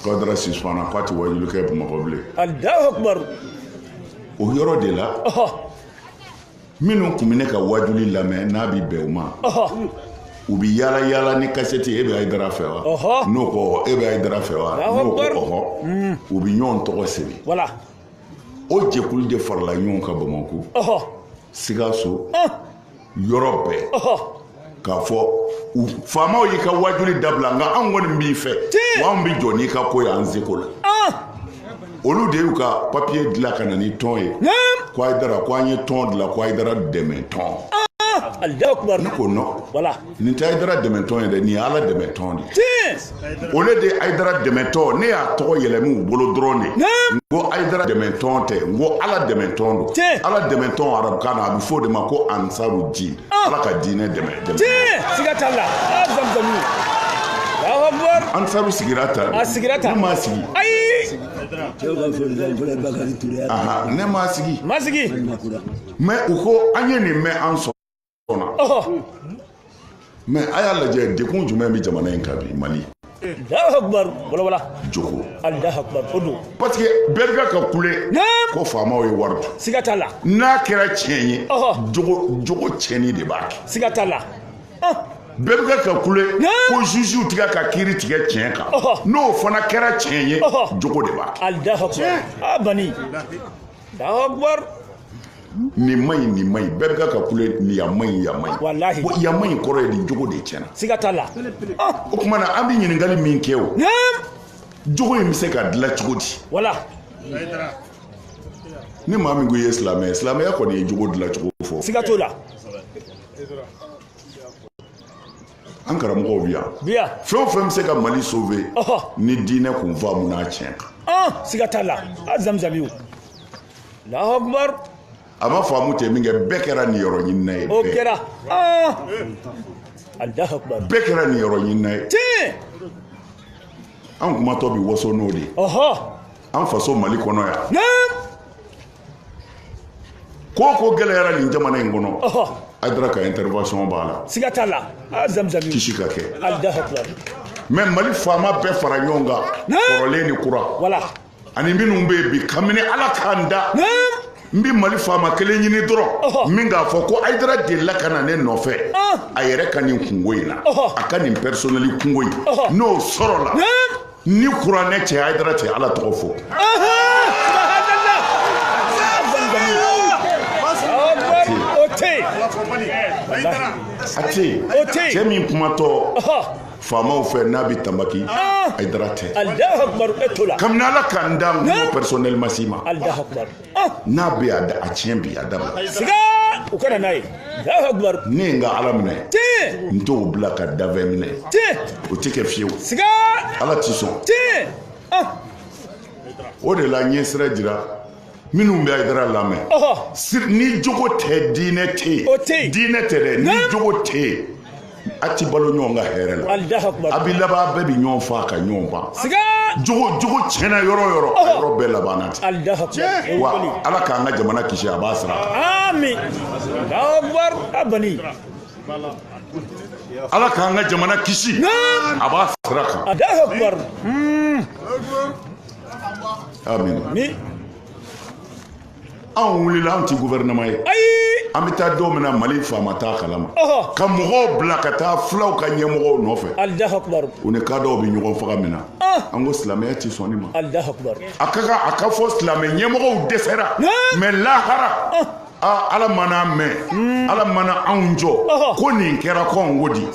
k'ayidara suspendra k'a tɛ wajulu kɛ bamakɔ bilen o yɔrɔ de la minnu tun bɛ ne ka wajuli lamɛn n'a bɛ bɛn u ma u bɛ yaala yaala ni kasɛti e bɛ ayidara fɛ wa n'o ko e bɛ ayidara fɛ wa n'o ko ɔhɔ hmm. u bɛ ɲɔgɔn tɔgɔ sɛbɛn o jɛkulu de farala ɲɔgɔn kan bamakɔ sikaso yɔrɔ bɛɛ k'a fɔ faamaw y'i ka wajuli dabila nka anw kɔni b'i fɛ wa anw bɛ jɔ n'i ka ko y'an seko la ah! olu de y'u ka papiye dilan ka na ni tɔn ye ko ayidara ko an ye tɔn dilan ko ayidara dɛmɛ tɔn ah! ne ko non nin tɛ ayidara dɛmɛ tɔn ye dɛ nin ye ala dɛmɛ tɔn de ye o le de ye ayidara dɛmɛtɔn ne y'a tɔgɔ yɛlɛmɛ u bolo dɔrɔn de n ko ayidara dɛmɛtɔn tɛ n ko ala dɛmɛtɔn don ala dɛmɛtɔn arabukan na a bɛ fɔ o de ma ko ansaru din ah. ala ka diinɛ dɛmɛ dɛmɛ siga t'a la ah, zamuzamu ansaru sigira tan a sigira tan ne m'a sigi ayi ne m'a sigi ma sigi mɛ u ko an ye nin mɛn an sɔnna mɛ a y'a lajɛ degun jumɛn bɛ jamana in kan bi mali jogo parce que bɛɛ bɛ ka kule ko faamaw ye wari dun siga t'a la n'a kɛra tiɲɛ ye jogo jogo tiɲɛni de b'a kɛ siga t'a la bɛɛ bɛ ka kule ko jugew tɛ ka kiri tigɛ tiɲɛ kan n'o fana kɛra tiɲɛ ye jogo de b'a kɛ nin man ɲi nin man ɲi bɛɛ bɛ ka ka kule nin yan man ɲi yan man ɲi walahi bon yan man ɲi kɔrɔ ye di jogo de tiɲɛna siga t'a la o tuma na an bɛ ɲininkali min kɛ o jogo in bɛ se ka dilan cogo di wala ni maa min ko i ye silamɛ ye silamɛya kɔni ye jogo dilan cogo fɔ siga t'o la an karamɔgɔw bi yan bi yan fɛn o fɛn bɛ se ka mali sauver ni diinɛ kun faamuna tiɲɛ kan an siga t'a la a zamzamiw alahu akubar a ma faamu ten min kɛ bɛɛ kɛra nin yɔrɔ ɲinina ye o kɛra an alahu akubar bɛɛ kɛra nin yɔrɔ ɲinina ye tiɲɛ an kumatɔ bi waso n'o de ye an faso mali kɔnɔ yan Ko ko gɛlɛyara nin jamana in kɔnɔ ayidara ka intervention b'a la siga t'a la ka kɛ mɛ mali faama bɛɛ fara ɲɔgɔn kan kɔrɔlen ni kura voilà ani minnu bɛ bi kabini ala k'an da n bɛ mali faama kelen ɲini dɔrɔn min k'a fɔ ko ayidara delila ka na ne nɔfɛ a yɛrɛ ka nin kunko in na a ka nin personnel kunko in n'o sɔrɔla ni kuranɛ cɛ ayidara tɛ ala tɔgɔ fɔ a tɛ yen cɛ min kumatɔ faamaw fɛ n'a bɛ tanbaki ayidara tɛ kabini ala k'an da n ko personnel ma s'i ma n'a bɛ a da a tiɲɛ bi a dabila siga u kana n'a ye Allahu akbar ne ye n ka ala minɛ tiɲɛ n t'o bila ka danfɛn minɛ tiɲɛ o tɛ kɛ fiyewu siga ala t'i sɔn tiɲɛ ah. o de la n ye sira jira minnu bɛ ayidara lamɛn ni jogo tɛ diinɛ tɛ yen diinɛ tɛ dɛ ni jogo tɛ yen a ti balo ɲɔgɔn kan hɛrɛ la a bi laban bɛɛ bi ɲɔgɔn faa ka ɲɔgɔn ban jogo jogo tiɲɛna yɔrɔ o yɔrɔ a yɔrɔ bɛɛ labanna ten wa ala k'an ka jamana kisi a b'a sara amin ala k'an ka jamana kisi a b'a sira kan amin anw wulila anw ti gouvernement ye ayi an bɛ taa don min na mali faama t'a kalama ka mɔgɔw bila ka taa fulaw ka ɲɛmɔgɔw nɔfɛ u ni kadɔw bɛ ɲɔgɔn faga min na an ko silamɛya ti sɔn nin ma a ka kan a k'a fɔ silamɛ ɲɛmɔgɔw dɛsɛra mɛ lahara ala mana mɛn ala mana anw jɔ ko nin kɛra cogo di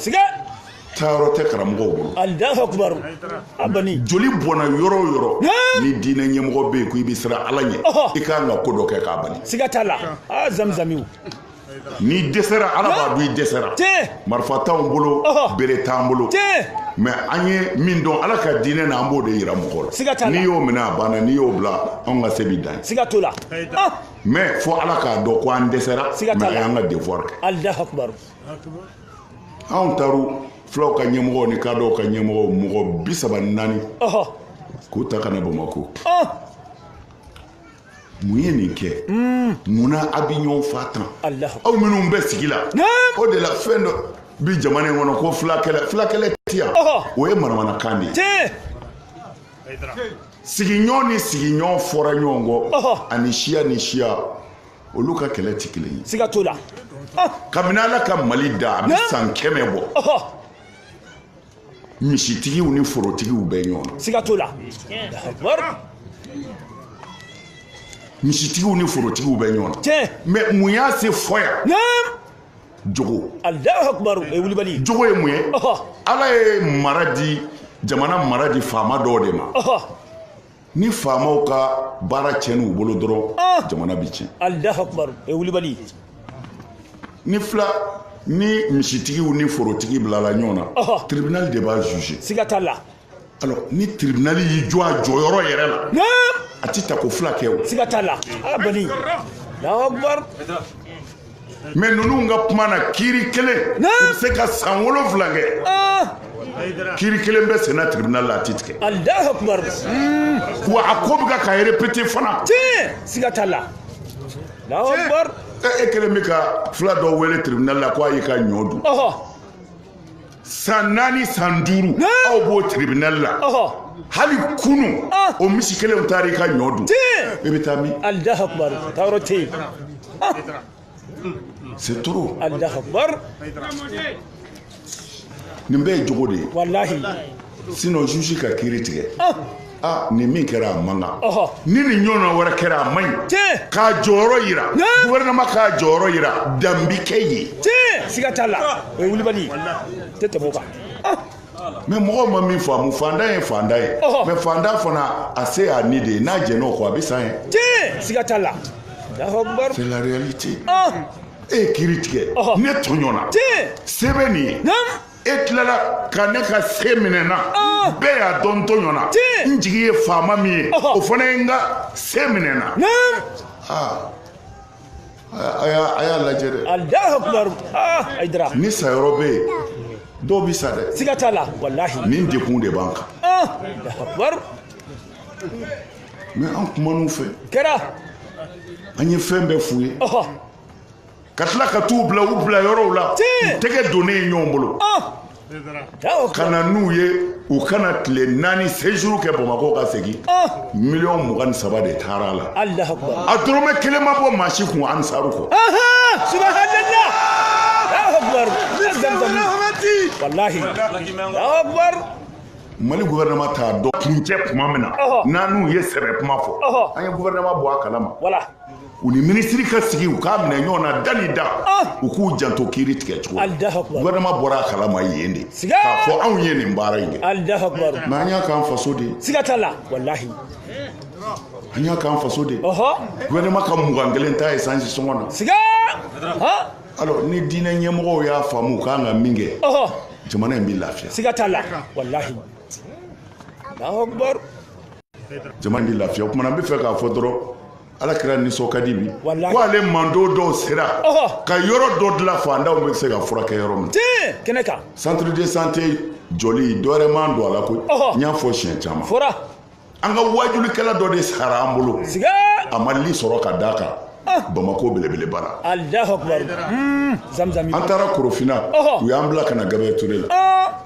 taayɔrɔ tɛ karamɔgɔw bolo alahu akubaru abani joli bɔnna yɔrɔ o yɔrɔ ni diinɛ ɲɛmɔgɔ bɛ yen ko i bɛ siran ala ɲɛ i ka kan ka ko dɔ kɛ k'a bali siga t'a la aa zamizamiw n'i dɛsɛra ala b'a dɔn i dɛsɛra marifa t'anw bolo bere t'an bolo mɛ an ye min dɔn ala ka diinɛ na an b'o de yira mɔgɔ la n'i y'o minɛ a banna n'i y'o bila anw ka se bi dan siga t'o la mɛ fo ala k'a dɔn ko an dɛsɛra mɛ an y'an ka devoir kɛ anw taru fulaw ka ɲɛmɔgɔw ni kadɔw ka ɲɛmɔgɔw mɔgɔ bi saba ni naani k'u ta ka na bamako mun ye nin kɛ hmm. munna a bɛ ɲɔgɔn fa tan aw minnu bɛ sigi la o de la fɛn dɔ bi jamana in kɔnɔ ko fulakɛlɛ fulakɛlɛ ti yan o ye manamanakan de ye sigiɲɔgɔn ni sigiɲɔgɔn fɔra ɲɔgɔn kɔ ani siya ni siya olu ka kɛlɛ tɛ kelen ye siga t'o la ah! kabini ala ka mali da a bɛ san kɛmɛ bɔ misitigiw ni forotigiw bɛ ɲɔgɔn na siga t'o la misitigiw ni forotigiw bɛ ɲɔgɔn na tiɲɛ mais mun y'a se fɔ yan jogo alahu akubaru o ye wulibali jogo ye mun ye ala ye mara di jamana mara di faama dɔw de ma ni faamaw ka baara tiɲɛn'u bolo dɔrɔn ah! jamana bɛ tiɲɛ alahu akubar o ye wulibali ni fula ni misitigiw ni forotigi bilala ɲɔgɔn na tribunal de b'a juger siga t'a la alors ni tribunal y'i jɔ a jɔyɔrɔ yɛrɛ la a ti taako fila kɛ o siga t'a la a bani alahu akubar mais ninnu ka kuma na kiiri kelen u bɛ se ka san wolonwula kɛ kiiri kelen bɛ senna tribunal la a ti tigɛ wa a ko bɛ ka ka répété fana siga t'a la e kelen bɛ ka fula dɔ wele tribunal la ko a y'i ka ɲɔ dun san naani san duuru aw b'o tribunal la hali kunu ah. o misi kelenw taara i ka ɲɔ dun i bɛ taa min alahu akubar taayɔrɔ tɛ yen ah. c'est trop alahu akubar nin bɛɛ ye jogo de ye walahi sinon juge ka kiiri tigɛ ah. aa nin min kɛra a man kan Ɔhɔ. ni nin ɲɔgɔnna wɛrɛ kɛra a man ɲi Tiɲɛ. k'a jɔyɔrɔ yira Ne. gouvernement k'a jɔyɔrɔ yira dan bɛ kɛ yen tiɲɛ siga t'a la o ye wulibali ye tɛ tɛmɛ o kan mais mɔgɔw ma min faamu fantan ye fantan ye Ɔhɔ. mais fantan fana a se y'a ni de ye n'a jɛn'o kɔ a bɛ sa yen tiɲɛ siga t'a la Allahu Akbar. c'est la réalité Ah, e ye kiiri tigɛ Ɔhɔ. ne tɔɲɔna tiɲɛ se bɛ nin ye naam e tilala ka ne ka se minɛ n na ah. bɛɛ y'a dɔn n tɔɲɔna n jigi ye faama min ye o fana ye n ka se minɛ n na ah. a y'a lajɛ dɛ ah, ni sayɔrɔ bɛ yen dɔw bɛ sa dɛ siga t'a la walahi nin dekun de b'an kan mais an kuman'u fɛ kɛra an ye fɛn bɛɛ f'u ye ka tila ka t'u bila u bila yɔrɔw la u tɛgɛ donnen ye ɲɔgɔn bolo ka na n'u ye u ka na tile naani séjour kɛ bamako ka segin miliyɔn mugan ni saba de taara a la a dɔrɔmɛ kelen ma bɔ maa si kun ansaru kɔ mali gouvernement t'a dɔn kuncɛ kuma min na n'an n'u ye sɛbɛ kuma fɔ an ye gouvernement bɔ a kalama u ni minisiri ka sigi u k'a minɛ ɲɔgɔn na da ni da ah! u k'u janto kiiri tigɛ cogo la gouvernement bɔra a kalama yen de k'a fɔ anw ye nin baara in kɛ mais an y'a k'an faso de ye siga t'a la walahi an y'a k'an faso de ye gouvernement ka mugan kelen ta esansi sɔngɔ na siga alors ni diinɛ ɲɛmɔgɔw y'a faamu u k'an ka min kɛ jamana in bɛ lafiya siga t'a la walahi jamana in bɛ lafiya o kuma na n bɛ fɛ k'a fɔ dɔrɔn ala kira nisɔn ka di bi ko ale mantɔn dɔw sera ka yɔrɔ dɔ dilan faantanw bɛ se ka furakɛ yɔrɔ min kɛnɛ kan centre de santé jɔli dɔwɛrɛ ma n don a la koyi n y'a fɔ siɲɛ caman an ka waajulikɛla dɔ de sara an bolo a ma li sɔrɔ ka d'a kan ah. bamako belebeleba la alahu akubar hmm, zamzami an taara korofina u y'an bila ka na gabriel ture la ah.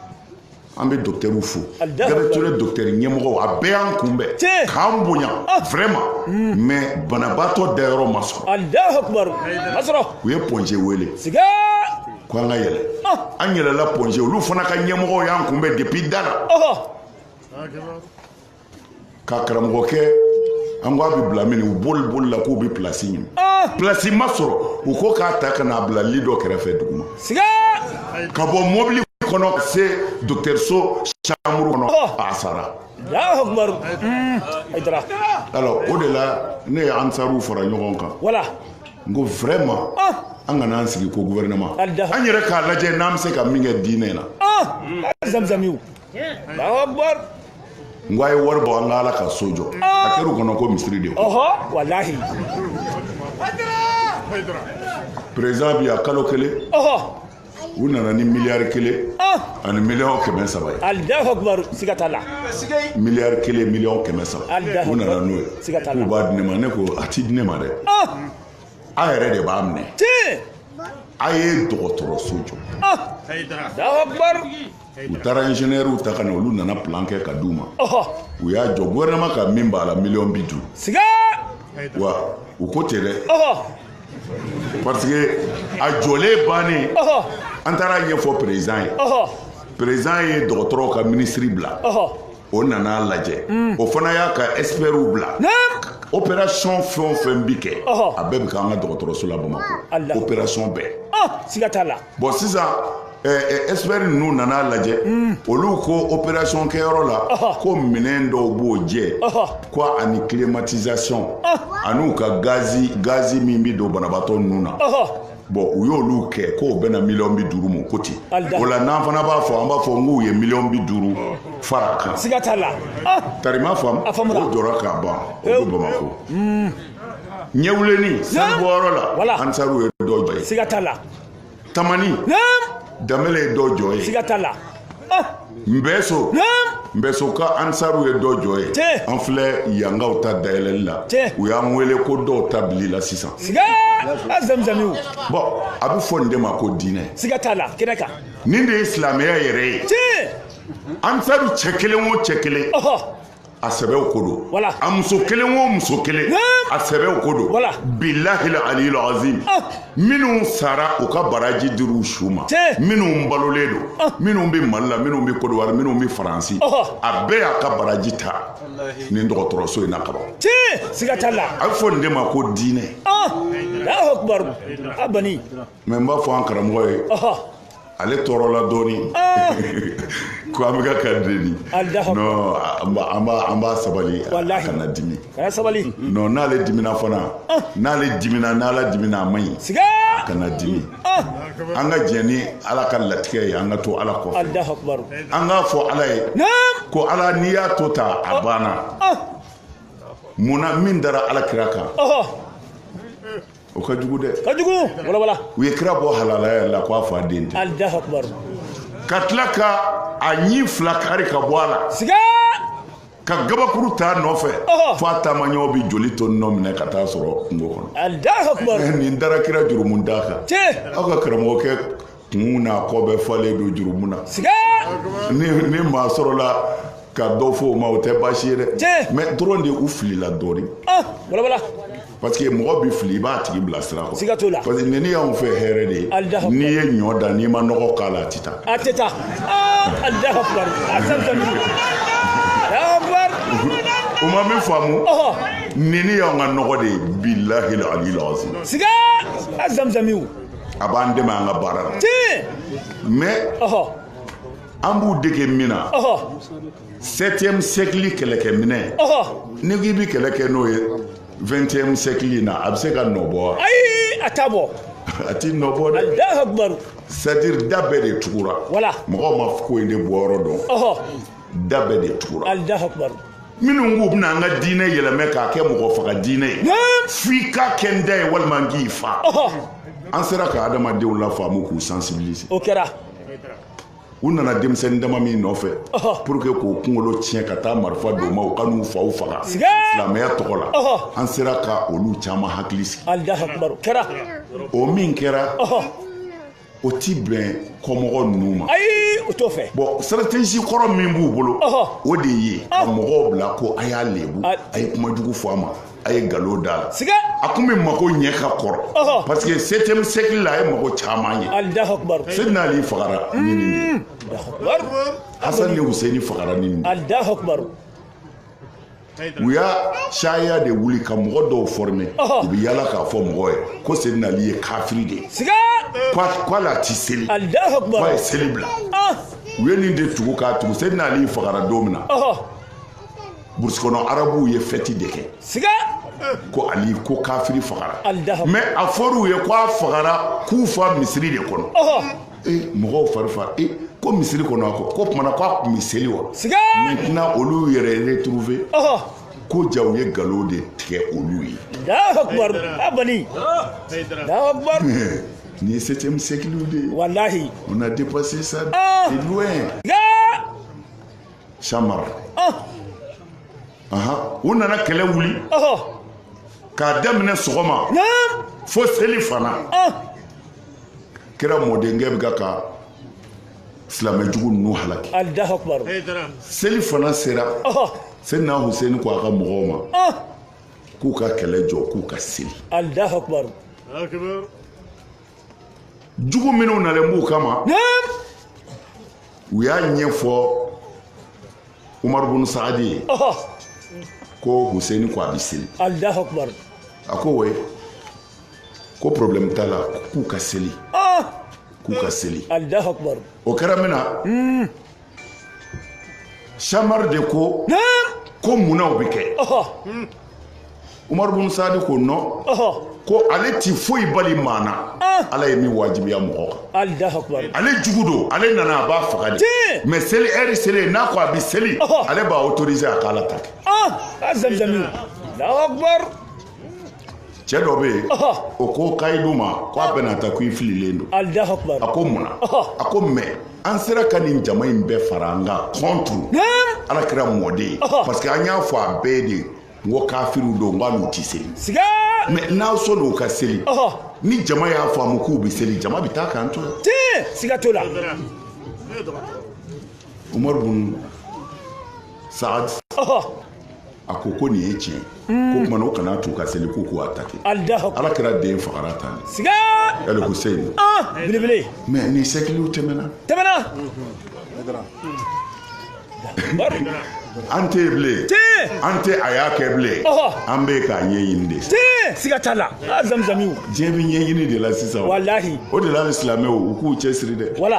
an bɛ docteurw fo gabriel ture docteur ɲɛmɔgɔw a bɛɛ y'an kunbɛn k'an bonya ah. vraiment hmm. mais banabaatɔ dayɔrɔ ma sɔrɔ u ye point g wele ko an ka yɛlɛ ah. an yɛlɛla point g olu fana ka ɲɛmɔgɔw y'an kunbɛn depuis da la ka karamɔgɔ kɛ an ko a bɛ bila min u bolibolila k'u bɛ pilasi ɲini pilasi ma sɔrɔ u ko k'a ta ka n'a bila li dɔ kɛrɛfɛ duguma ka bɔ mɔbili kɔnɔ ka se dɔgɔtɔrɔso chambre kɔnɔ a sara alors o de la ne ye ansaruw fara ɲɔgɔn kan n ko vraiment an kana an sigi ko gouvernement an yɛrɛ k'a lajɛ n'an bɛ se ka min kɛ diinɛ na zamzamiw n ko a ye wari bɔ an ka ala ka so jɔ a kɛra u kɔnɔ ko misiri de président bi a kalo kelen u nana ni miliyari kelen ani miliyɔn kɛmɛ saba ye alahu akubaru siga t'a la miliyari kelen miliyɔn kɛmɛ saba u nana n'o ye k'u b'a di ne ma ne ko a ti di ne ma dɛ a yɛrɛ de b'a minɛ a ye dɔgɔtɔrɔso jɔ u taara ingénieurw ta ka na olu nana plan kɛ ka d'u ma u y'a jɔ gouvernement ka min b'a la miliyɔn bi duuru siga wa u ko ten dɛ parce que a jɔlen bannen an taara ɲɛfɔ président ye président ye dɔgɔtɔrɔw ka ministre bila o nan'a lajɛ mm. o fana y'a ka expertw bila opération fɛn o fɛn bi kɛ a bɛɛ bi k'an ka dɔgɔtɔrɔso la bamakɔ opération bɛɛ ah, siga t'a la bɔn sisan eh, eh, expert ninnu nan'a lajɛ mm. olu ko opération kɛyɔrɔ la ko minɛn dɔw b'o jɛ ko ani climatisation ah. an'u ka gazi gazi min bi don banabaatɔ ninnu na bɔn u y'olu kɛ k'o bɛnna miliyɔn bi duuru ma ko ten o la n'an fana b'a fɔ an b'a fɔ n k'u ye miliyɔn bi duuru fara kan siga t'a la ah! tari i m'a faamu o jɔra kaban o bɛ bamakɔ hmm. ɲɛwuleni sanu bɔyɔrɔ la ansaruw ye dɔ jɔ yen siga t'a la tamani damele ye dɔ jɔ yen siga t'a la nbɛso nbɛso ka ansaruw ye dɔ jɔ yen an filɛ yangaw ta dayɛlɛli la u y'an wele ko dɔw ta bilila sisan bɔn a bɛ fɔ nin de ma ko diinɛ siga t'a la kɛnɛ kan nin de ye silamɛya yɛrɛ ye ansaru cɛ kelen o cɛ kelen a sen bɛ o ko dɔ voilà a muso kelen o muso kelen a sen bɛ o ko dɔ voilà billahi la aliyil azim ah. minnu sara u ka baraji dir'u su ma minnu balolen don ah. minnu bɛ mali la minnu bɛ kodowari minnu bɛ faransi a bɛɛ y'a ka baraji ta nin dɔgɔtɔrɔso in na kaban siga t'a la a bɛ fɔ nin de ma ko diinɛ ah. Allahu akbar abani mais n b'a fɔ an karamɔgɔ ye ale tɔɔrɔla dɔɔni ah. ko an bɛ ka a deli an b'a sabali kana dimi non n'ale dimina fana ah. n'ale dimina n'ala dimina a man ɲi kana dimi ah. an ka jɛn ni ala ka latigɛ ye an ka to ala kɔfɛ an k'a fɔ ala ye ko ala n'i y'a to tan a banna mun na min dara ala kira kan o ka jugu dɛ ka jugu walawala u ye kira bɔ halalaya la k'a fa den tɛ Allahu akbar ka tila ka a ɲi fila kari ka bɔ a la siga ka gabakuru t'a nɔfɛ fo a taamaɲɔgɔnw bɛ joli to nɔ minɛ ka taa a sɔrɔ kungo kɔnɔ Allahu akbar nin dara kira jurumuntan kan aw ka karamɔgɔkɛ kun n'a kɔ bɛɛ falen don jurumu na ni maa sɔrɔla ka dɔ fɔ o ma o tɛ baasi ye dɛ mais dɔrɔn de u filila dɔɔnin ah, parce que mɔgɔ bɛ fili i b'a tigi bila sira kɔ siga t'o la parce que nin y'anw fɛ hɛrɛ de ye n'i ye ɲɔ dan n'i ma nɔgɔ k'a la a tɛ taa a tɛ taa Allahu akbar asansan u ma min faamu nin y'anw ka nɔgɔ de ye bilahi alil azim siga a zamzamiw a b'an dɛmɛ an ka baara la mais an b'u dege min na septième siècle kɛlɛkɛminɛn n'i k'i bɛ kɛlɛ kɛ n'o ye vingtième siècle in na a bɛ se ka nɔ bɔ wa ayi a t'a bɔ a ti nɔ bɔ dɛ c'est à dire da bɛɛ de tugura mɔgɔw ma ko in de bɔyɔrɔ dɔn da bɛɛ de tugura Allahu akbar minnu k'u bɛna an ka diinɛ yɛlɛmɛ k'a kɛ mɔgɔ faga diinɛ ye f'i ka kɛ n da ye walima n k'i fa an sera ka adamadenw lafaamu k'u sensibiliser o kɛra u nana denmisɛnnin dama min nɔfɛ pour que k'o kunkolo tiɲɛ ka taa marifa d'o ma u ka n'u faw faga silamɛya tɔgɔ la an sera ka olu caman hakili sigi o min kɛra o ti bɛn kɔmɔgɔ ninnu ma ayi o t'o fɛ bon stratégie kɔrɔ min b'u bolo o de ye ka mɔgɔw bila ko a y'a lebu a ye kuma jugu fɔ a ma a ye nkalon d'a la siga a kun bɛ mago ɲɛ ka kɔrɔ parce que septième siècle la a ye mago caman ɲɛ alahu akubar seydina ali fagara ni nin de ye hasan ni huseni fagara ni nin de ye alahu akubar u y'a caya de wuli ka mɔgɔ dɔw former u bɛ yala k'a fɔ mɔgɔ ye ko sedina ali ye kafiri de ye k'ale a ti seli k'a ye seli bila u ye nin de tugu k'a tugu sedina ali fagara don min na burusi kɔnɔ arabuw ye fɛti de kɛ ko ali ko kafiri fagara mais a fɔr'u ye ko a fagara kufa misiri de kɔnɔ ee mɔgɔw fari fa ee ko misiri kɔnɔ a kɔ ko kumana ko a kun bɛ seli wa siga maintenant olu yɛrɛ retrouver ɔhɔ ko jaa u ye nkalon de tigɛ olu ye Allahu akbar a bani Allahu akbar nin ye septième siècle de ye wallahi on a dépassé ça Ah. de loin siga samar ɔh ahan u nana kɛlɛ wuli ɔhɔ k'a daminɛ sɔgɔma naam fo selifana ɔh kira mɔdenkɛ bɛ kan ka silamɛ jugu ninnu halaki Allahu akbar selifana sera Seydina Huseni ko a ka mɔgɔw ma k'u ka kɛlɛ jɔ k'u ka seli Allahu akbar jugu minnu nalen b'u kama u y'a ɲɛfɔ Umaru bunu Saadi ye ko Huseni ko a bɛ seli Allahu akbar a ko oui ko problème t'a la k'u ka seli ah! k'u ka seli o kɛra min na hmm. samari de ko ko munna o bɛ kɛ umaru bin sadi ko non ko ale ti foyi bali maa na ah! ala ye min wajibiya mɔgɔ kan ale jugu don ale nana a b'a faga de mais seli heure selen n'a ko a bɛ seli ale b'a autoriser a k'ala ta kɛ ah! cɛ dɔ bɛ yen o ko kayidu ma ko a bɛna taa ko i fililen don a ko mun na a ko mais an sera ka nin jama in bɛɛ fara an kan contre ala kira mɔden parce que an y'a fɔ a bɛɛ de n ko kafiriw don n ko olu tɛ seli mais n'aw sɔnn'u ka seli ni jama y'a faamu k'u bɛ seli jama bɛ taa k'an to yan siga t'o la umaru bun saad a ko ko nin ye tiɲɛ hmm. ko kumana o kana t'u ka seli k'u k'u atake ala kira den fagara tan siga el husein ah, belebele mais nin siècles tɛmɛna tɛmɛna an tɛ bilen an tɛ a y'a kɛ bilen an bɛ k'a ɲɛɲini de siga t'a la a zamizamiw diɲɛ bɛ ɲɛɲini de la sisan walahi o de la silamɛw u k'u cɛsiri dɛ wala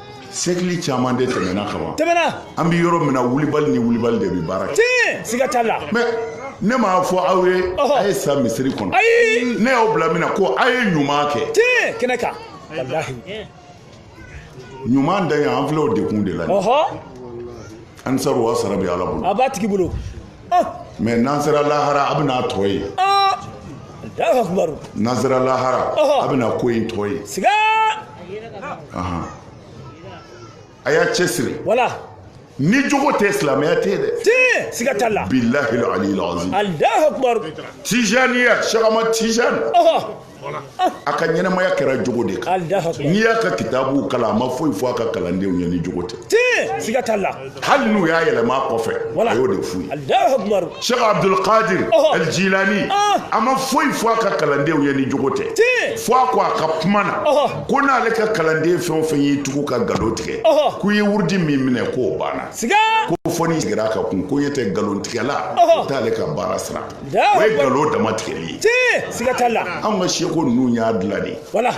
siècle caman de tɛmɛna kaban tɛmɛna an bɛ yɔrɔ min na wulibali ni wulibali de bɛ baara kɛ tiɲɛ siga t'a la mais ne m'a fɔ aw ye a ye sa misiri kɔnɔ ayi ne y'aw bila min na ko a ye ɲuman kɛ tiɲɛ kɛnɛ kan walahi ɲuman dan ye an filɛ o de kun de la ɔhɔ an sara wa sara bɛ ala bolo a b'a tigi bolo mais n'an sera lahara a bɛna tɔ ye n'an sera lahara a bɛna ko in tɔ ye a y'a cɛsiri ni jogo tɛ silamɛya tɛ yen dɛ tɛ siga t'a la bilahi aliyil azim alahu akibaru tijaniya sɛk ahmad tijani a ka ɲɛnamaya kɛra jogo de kan n'i y'a ka kitabuw kalan a ma foyi fɔ a ka kalandenw ye ni jogo tɛ siga t'a la hali n'u y'a yɛlɛma a kɔfɛ a y'o de f'u ye sɛk abdulkadir el jilani a ma foyi fɔ a ka kalandenw ye ni jogo tɛ fo a ko a ka kuma na ko n'ale ka kalanden fɛn o fɛn y'i tugu ka galo tigɛ k'u ye wurudi min minɛ k'o banna ko fo n'i sigira a ka kun ko ɲɛ tɛ nkalontigɛla o t'ale ka baara sira o ye galo dama tigɛli ye tiɲɛ siga t'a la anw ka sɛku ninnu y'a dilan de wala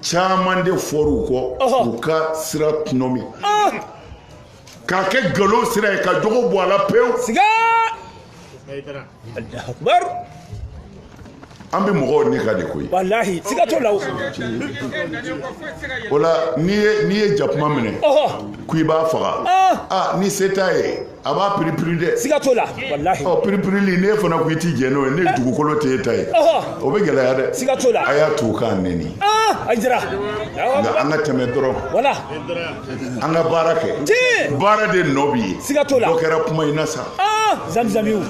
caman de fɔr'u kɔ u ka sira tɔnɔmi k'a kɛ galo sira ye ka jogo bɔ a la pewu siga an bɛ mɔgɔw ne ka de koyi walahi siga t'o la o o la n'i ye n'i ye jakuma minɛ ko i b'a faga aa ni se t'a ye a b'a piripiri dɛ siga t'o la walahi ɔ piripirili n'e fana ko i t'i jɛn n'o ye ne dugukolo t'e ta ye o bɛ gɛlɛya dɛ siga t'o la a y'a t'u k'an neni a jira nka an ka tɛmɛ dɔrɔn wala an ka baara kɛ baara de nɔ bɛ ye siga t'o la dɔ kɛra kuma in na sa zamzamiw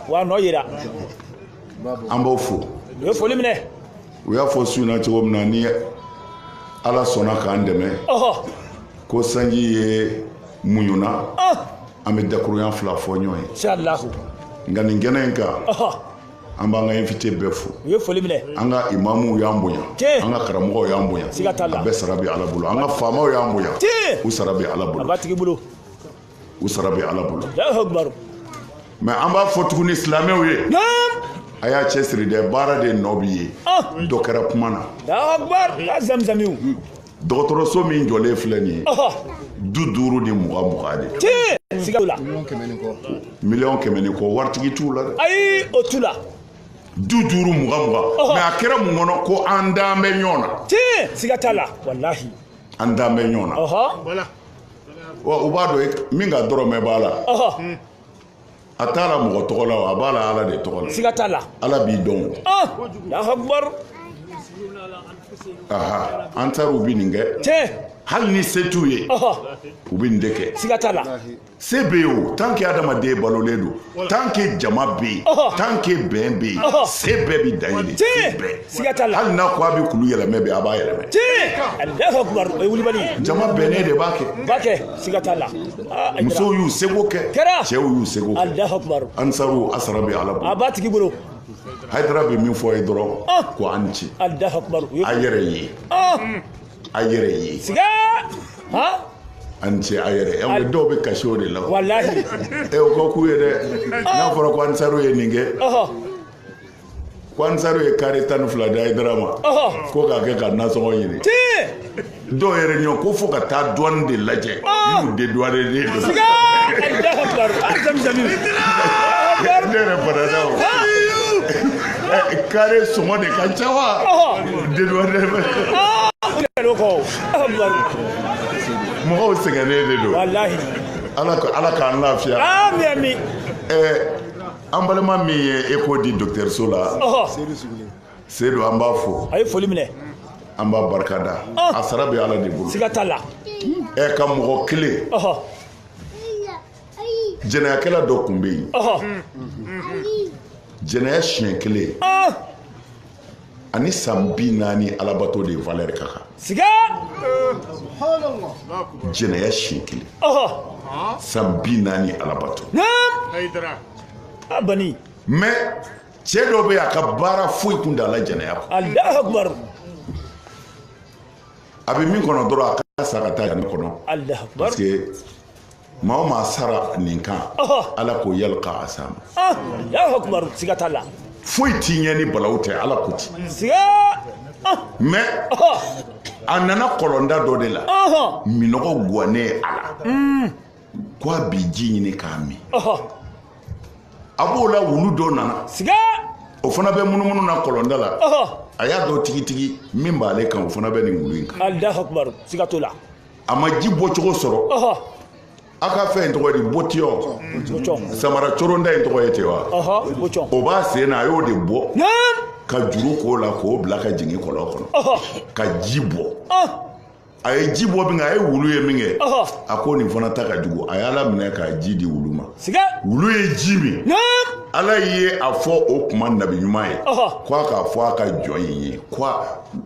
wa nɔ yira an b'aw fo u ye foli minɛ u y'a fɔ su in na cogo min na ni ala sɔnna k'an dɛmɛ ko sanji ye muɲuna an bɛ dakurunya fila fɔ ɲɔgɔn ye nka nin kɛnɛ in kan an b'an ka invité bɛɛ fo u ye foli minɛ an ka imamuw y'an bonya an ka karamɔgɔw y'an bonya a bɛɛ sara bɛ ala bolo an ka faamaw y'an bonya u sara bɛ ala bolo a b'a tigi bolo u sara bɛ ala bolo mais an b'a fɔ tuguni silamɛw ye a y'a cɛsiri dɛ baara de nɔ b'i ye ah. dɔ kɛra kuma na dɔgɔtɔrɔso min jɔlen filɛ nin ye du duuru ni mugan mugan de miliyɔn kɛmɛ ni kɔ waritigi t'u la dɛ ayi o t'u la du duuru mugan mugan mais a kɛra mun kɔnɔ ko an dalen bɛ ɲɔgɔn na siga t'a la walahi an dalen bɛ ɲɔgɔn na wa u b'a dɔn min ka dɔrɔmɛ b'a la a t'a la mɔgɔ tɔgɔ la a b'a la ala de tɔgɔ la siga t'a la ala b'i dɔn ansaruw bɛ nin kɛ tiɲɛ hali ni se t'u ye u bɛ nin de kɛ siga t'a la se bɛ yen o tant que adamaden balolen don tant que jama bɛ yen tant que bɛn bɛ yen se bɛɛ bɛ dan yen de se bɛɛ siga t'a la hali n'a ko a bɛ kulu yɛlɛmɛ bi a b'a yɛlɛmɛ tiɲɛ alahu akubar o ye wulibali ye jama bɛnnen de b'a kɛ b'a kɛ siga t'a la ah, a musow y'u seko kɛ kɛra cɛw y'u seko kɛ alahu akubar ansaru a sara bɛ ala bolo a b'a tigi bolo hayidara bɛ min fɔ a ye dɔrɔn ah. ko a ni ce alahu akubar a yɛrɛ ye ah. a yɛrɛ ye siga a ni ce a yɛrɛ ye an dɔw bɛ kasi o de la walahi e o ka k'u ye dɛ n'a fɔra ko ansaru ye nin kɛ ko ansaru ye kare tan ni fila di hayidara ma ko k'a kɛ ka nasɔngɔ ɲini dɔw yɛrɛ ɲɔ ko fo ka taa douane de lajɛ n'u dédouané de don ne yɛrɛ banana o kare sɔngɔ de ka ca wa dédouané de bɛ mɔgɔw sɛgɛnnen de don ala k'an lafiya an balima min ye eko di dɔgɔtɔrɔso la seyidu an b'a fo a ye foli minɛ an b'a barika da a sara bɛ ala de bolo siga t'a la ɛ ka mɔgɔ kelen jɛnɛyakɛla dɔ tun bɛ yen jɛnɛya siɲɛ kelen ani san bi naani alabato de valeur ka kan siga jɛnɛya siɲɛ kelen san bi naani alabato abani mais cɛ dɔ bɛ a ka baara foyi tun t'a la jɛnɛya kɔ alahu akubaru a bɛ min kɔnɔ dɔrɔn a ka sa ka taa yanni kɔnɔ alahu akubaru parce que maa o maa sara nin kan ala k'o yali ka a s'a ma Alahu akubaru siga t'a la foyi t'i ɲɛ ni balawu tɛ ala ko ten siga mais a nana kɔlɔnda dɔ de la minɔgɔ guwannen a la mm. ko a bi ji ɲini k'a min a b'o la wulu dɔ nana siga o fana bɛ munumunu na kɔlɔnda la a y'a dɔn tigitigi min b'ale kan o fana bɛ nin wulu in kan siga t'o la a ma ji bɔcogo sɔrɔ a ka fɛn in tɔgɔ ye di botiyɔn samara coronda in tɔgɔ ye ten wa o b'a sen na a y'o de bɔ ka juru k'o la k'o bila ka jigin kɔlɔn kɔnɔ ka ji bɔ a ye ji bɔ min kɛ a ye wulu ye min kɛ a ko nin fana ta ka jugu a y'ala minɛ k'a ji di wulu ma wulu ye ji min ala ye a fɔ o kuma nabi ɲuman ye ko a k'a fɔ a ka jɔn in ye ko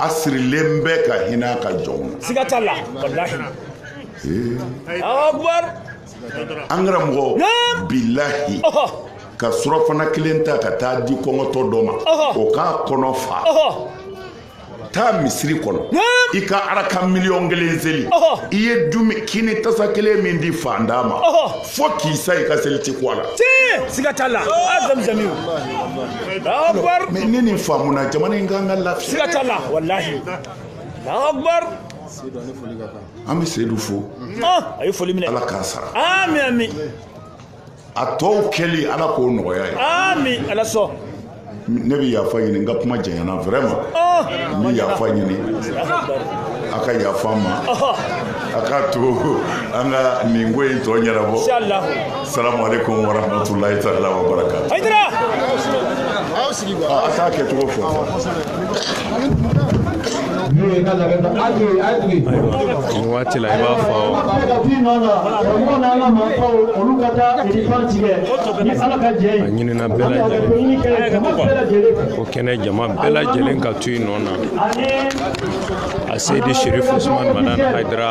a sirilen bɛ ka hinɛ a ka jɔnw na siga t'a la walahi Alahu akubar an karamɔgɔ Naam. bilahi ɔhɔ ka surafana kelen ta ka taa di kɔngɔtɔ dɔ ma Ɔhɔ. o k'a kɔnɔ fa ɔhɔ taa misiri kɔnɔ Naam. i ka araka miliyɔn kelen seli Ɔhɔ. i ye dumi kini tasa kelen min di faantan ma ɔhɔ fo k'i sa i ka seli ti ko a la tiɲɛ siga t'a la a zamizami o mais ne nin faamuna jamana in kan ka lafiya siga t'a la walahi akbar an bɛ seyidu fo a ye foli minɛ ala k'a sara amin amin a tɔw kɛli ala k'o nɔgɔya ye amin ala sɔn ne bɛ yafa ɲini n ka kuma janyana vraiment oh! n bɛ yafa ɲini a ka yafa n ma oh! a k'a to an ka nin ko in tɔ ɲɛnabɔ salamu aleykum wa rahmatulahi taala wa barakatu a k'a kɛcogo fɔ waati la i b'a fɔ a ɲinina bɛɛ lajɛlen ko kɛnɛ jama bɛɛ lajɛlen ka to i nɔ na a seyidi sherif usumani madani hayidara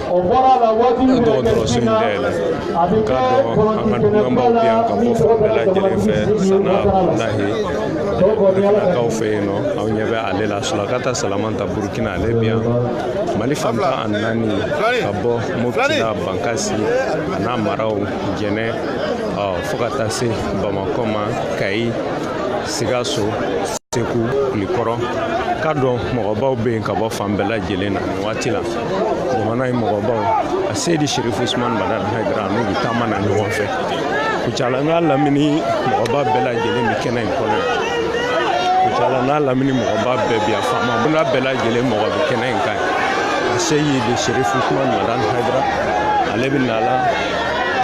a dɔgɔtɔrɔso in dayɛlɛ nka an ka dunanbaw bɛ yan ka bɔ fan bɛɛ lajɛlen fɛ sana abdulahi burkinakaw fɛ yen nɔ aw ɲɛ bɛ ale la sulakata salamata burkina ale bɛ yan mali fan tan ni naani ka bɔ mopti la bankasi a n'a maraw jɛnɛ fo ka taa se bamakɔ ma kayi sikaso Segu kulikɔrɔ k'a dɔn mɔgɔbaw bɛ yen ka bɔ fan bɛɛ lajɛlen na nin waati la jamana in mɔgɔbaw a seyidi sherifu usumani madani hayidara n'u bɛ taama na ɲɔgɔn fɛ kucala n'a lamini mɔgɔba bɛɛ lajɛlen bɛ kɛnɛ in kɔnɔ kucala n'a lamini mɔgɔba bɛɛ bɛ yan faama bunda bɛɛ lajɛlen mɔgɔ bɛ kɛnɛ in kan a seyidi sherifu usumani madani hayidara ale bɛ na la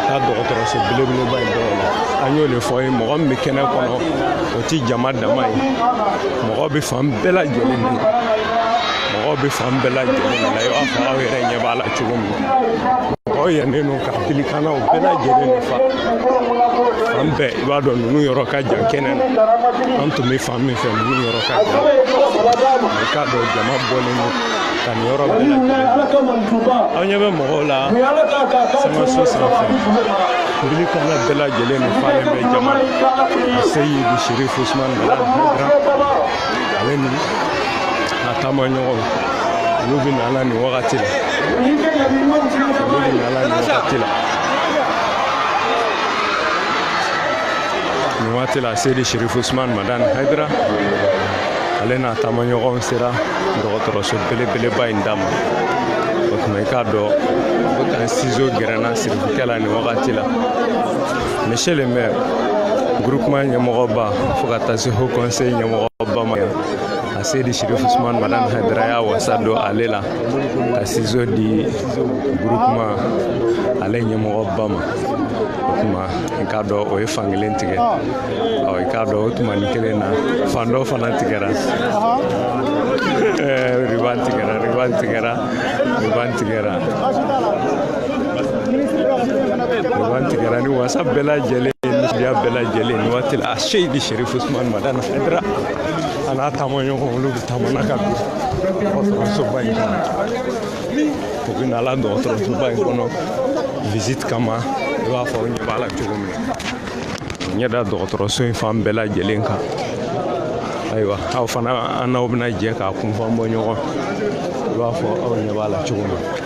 ka dɔgɔtɔrɔso belebeleba in dɔrɔn na an y'o de fɔ ye mɔgɔ min bɛ kɛnɛ kɔnɔ ti jama dama ye mɔgɔ bɛ fan bɛɛ lajɛlen na mɔgɔ bɛ fan bɛɛ lajɛlen na i b'a fɔ aw yɛrɛ ɲɛ b'a la cogo min na mɔgɔ yɛnnen don ka bilikanaw bɛɛ lajɛlen de fa fan bɛɛ i b'a dɔn ninnu yɔrɔ ka jan kɛnɛ na an tun bɛ fan min fɛ ninnu yɔrɔ ka jan i k'a dɔn jama bɔlen don ka nin yɔrɔ bɛɛ lajɛlen aw ɲɛ bɛ mɔgɔw la sankanso sanfɛ Bilikana bɛɛ lajɛlen de falen bɛ jama a seyidi sherifu usman madan haidara ale ni a taama ɲɔgɔn olu bɛ na la nin wagati la olu bɛ na la nin wagati la nin waati la seyidi sherifu usman madan haidara ale n'a taamaɲɔgɔn sera dɔgɔtɔrɔso belebeleba in da ma o tuma i k'a dɔn ko tan sizo gɛrɛnna Kɛ la nin wagati la monsieur le maire groupement ɲɛmɔgɔba fo ka taa se haut conseil ɲɛmɔgɔba ma a seyidi sirifu usumani madani hayidara y'a wasa don ale la ka sizo di groupement ale ɲɛmɔgɔba ma o tuma i k'a dɔn o ye fankelen tigɛ ɔ i k'a dɔn o tuma ni kelen na fan dɔ fana tigɛra riban tigɛra riban tigɛra riban tigɛra Ban tigɛra ni wasa bɛɛ lajɛlen nisɔndiya bɛɛ lajɛlen nin waati la a seyidi sɛrifu usumani madani hayidara a n'a taama ɲɔgɔn olu bɛ taama na ka don dɔgɔtɔrɔsoba in kɔnɔ u bɛ na la dɔgɔtɔrɔsoba in kɔnɔ visite kama i b'a fɔ aw ɲɛ b'a la cogo min na u ɲɛ da dɔgɔtɔrɔso in fan bɛɛ lajɛlen kan ayiwa aw fana an n'aw bɛna jɛ k'a kunfan bɔ ɲɔgɔn i b'a fɔ aw ɲɛ b'a la cogo min na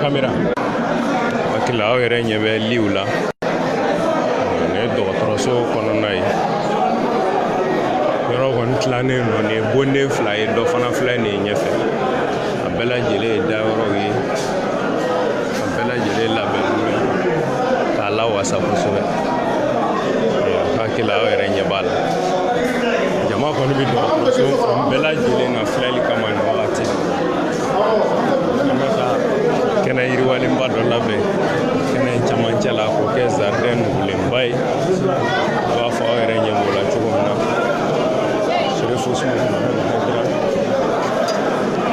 kamera hakili aw yɛrɛ ɲɛ bɛ liw la nin ye dɔgɔtɔrɔso kɔnɔna ye yɔrɔ kɔni tilannen don nin ye bonden fila ye dɔ fana filɛ nin ye ɲɛfɛ a bɛɛ lajɛlen ye dayɔrɔw ye a bɛɛ lajɛlen labɛnnen ye k'a lawasa kosɛbɛ hakili aw yɛrɛ ɲɛ b'a la jama kɔni bɛ dɔgɔtɔrɔso fan bɛɛ lajɛlen na filɛli kama nin wagati la kɛnɛ yiriwalenba dɔ labɛn kɛnɛ camancɛ la k'o kɛ zaridɛn nugulenba ye i b'a fɔ aw yɛrɛ ɲɛ b'o la cogo min na serefosi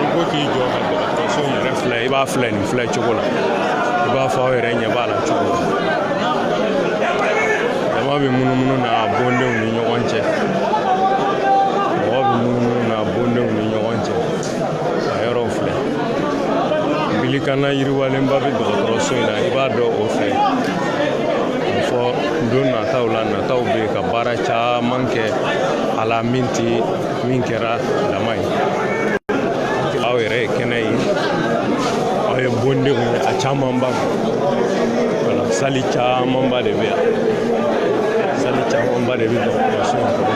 i ko k'i jɔ ka dɔgɔtɔrɔso yɛrɛ filɛ i b'a filɛ nin filɛ cogo la i b'a fɔ aw yɛrɛ ɲɛ b'a la cogo min jama bɛ munumunu na a bondenw ni ɲɔgɔn cɛ a yɔrɔw filɛ bilikana yiriwalenba bɛ dɔgɔtɔrɔso in na i b'a dɔn o fɛ fɔ don nataw la nataw bɛ ka baara caman kɛ a la min tɛ min kɛra dama ye aw yɛrɛ ye kɛnɛ ye aw ye bondenw ye a camanba wala sali camanba de bɛ yan sali camanba de bɛ dɔgɔtɔrɔso in kɔnɔ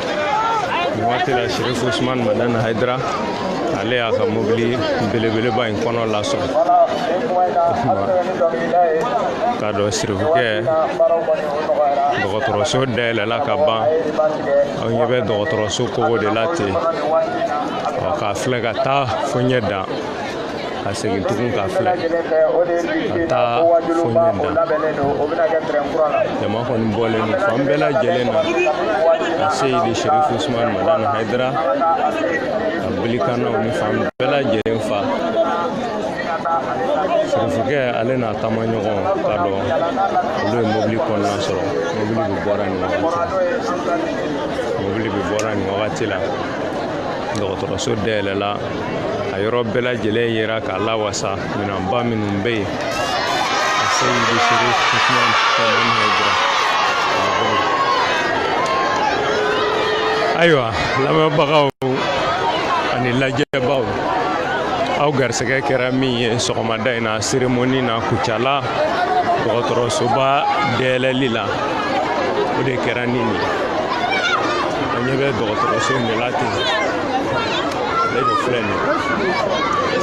nin waati la sherifu usman madan haidara ale y'a ka mobili belebeleba in kɔnɔ lasɔrɔ k'a dɔn sirifukɛ dɔgɔtɔrɔso dayɛlɛla ka ban aw ɲɛ bɛ dɔgɔtɔrɔso kogo de la ten k'a filɛ ka taa fo ɲɛ dan ka segin tugun k'a filɛ ka taa fo ɲɛ dan jama kɔni bɔlen don fan bɛɛ lajɛlen na a seyidi sherif usman madan haidara ka bilikanaw ni fan bɛɛ lajɛlen fa sirifukɛ ale n'a taamaɲɔgɔn k'a dɔn olu ye mobili kɔnɔna sɔrɔ mobili bɛ bɔra nin wagati la dɔgɔtɔrɔso dayɛlɛla a yɔrɔ bɛɛ lajɛlen yera k'a lawasa minɛnba minnu bɛ yen a se bɛ se ayiwa lamɛnbagaw ani lajɛbaaw aw garisɛgɛ kɛra min ye sɔgɔmada in na seremoni na kucala dɔgɔtɔrɔsoba dayɛlɛli la o de kɛra nin ye an ɲɛ bɛ dɔgɔtɔrɔso in de la ten ale de filɛ nin ye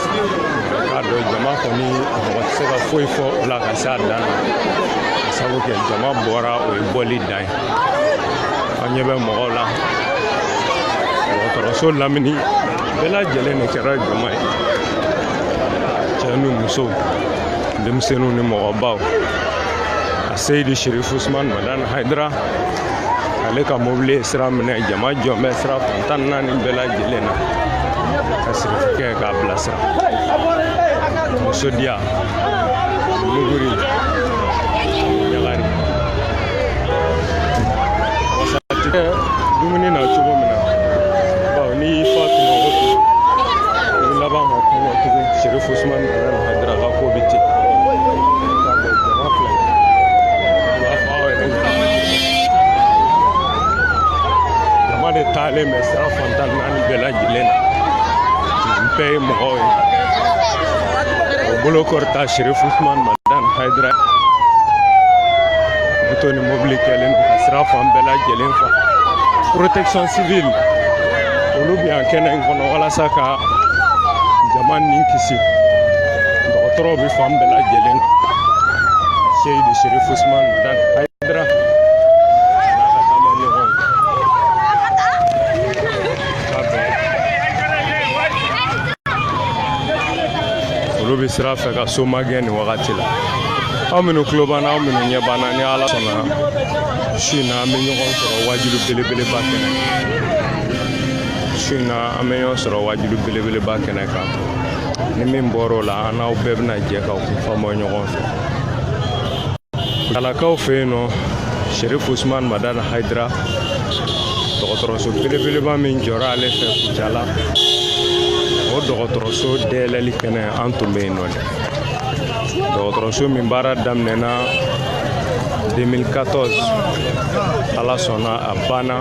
k'a dɔn jama kɔni mɔgɔ tɛ se ka foyi fɔ o la ka se a dan na ka sabu kɛ jama bɔra o ye bɔli dan ye an ɲɛ bɛ mɔgɔw la dɔgɔtɔrɔso lamini bɛɛ lajɛlen de kɛra jama ye cɛ ni muso denmisɛnninw ni mɔgɔbaw a seyidi sirifu usumani madani hayidara ale ka mobili ye sira minɛ jama jɔn bɛ sira fan tan naani bɛɛ lajɛlen na ka sirifukɛ k'a bilasira nisɔndiya muguri ɲagari wasa tɛ kɛ dumuni na cogo min na bawo n'i y'i fa tuma o tuma i bɛ laban ka kɔngɔ tugun serifu usumani madani hayidara ka ko bɛ ten Jama de taalen bɛ sira fan tan naani bɛɛ lajɛlen na nin bɛɛ ye mɔgɔw ye o bolo kɔrɔta sirifu usumani madan hayidara moto ni mobili kɛlen don ka sira fan bɛɛ lajɛlen fa protection civile olu bɛ yan kɛnɛ in kɔnɔ walasa ka jama ni kisi dɔgɔtɔrɔw bɛ fan bɛɛ lajɛlen na seyidi serifu usman madan hayidara olu bɛ sira fɛ ka so magɛn nin wagati la aw minnu tulo b'an na aw minnu ɲɛ b'an na ni ala sɔnna su in na an bɛ ɲɔgɔn sɔrɔ waajuli belebeleba kɛnɛ su in na an bɛ ɲɔgɔn sɔrɔ waajuli belebeleba kɛnɛ kan ni min bɔr'o la an n'aw bɛɛ bɛna jɛ k'o kun faamu ɲɔgɔn fɛ kucalakaw fɛ yen nɔ sherif usman madan haidara dɔgɔtɔrɔso belebeleba min jɔra ale fɛ kucala o dɔgɔtɔrɔso dayɛlɛli kɛnɛ an tun bɛ yen nɔ dɛ dɔgɔtɔrɔso min baara daminɛna 2014 ala sɔnna a banna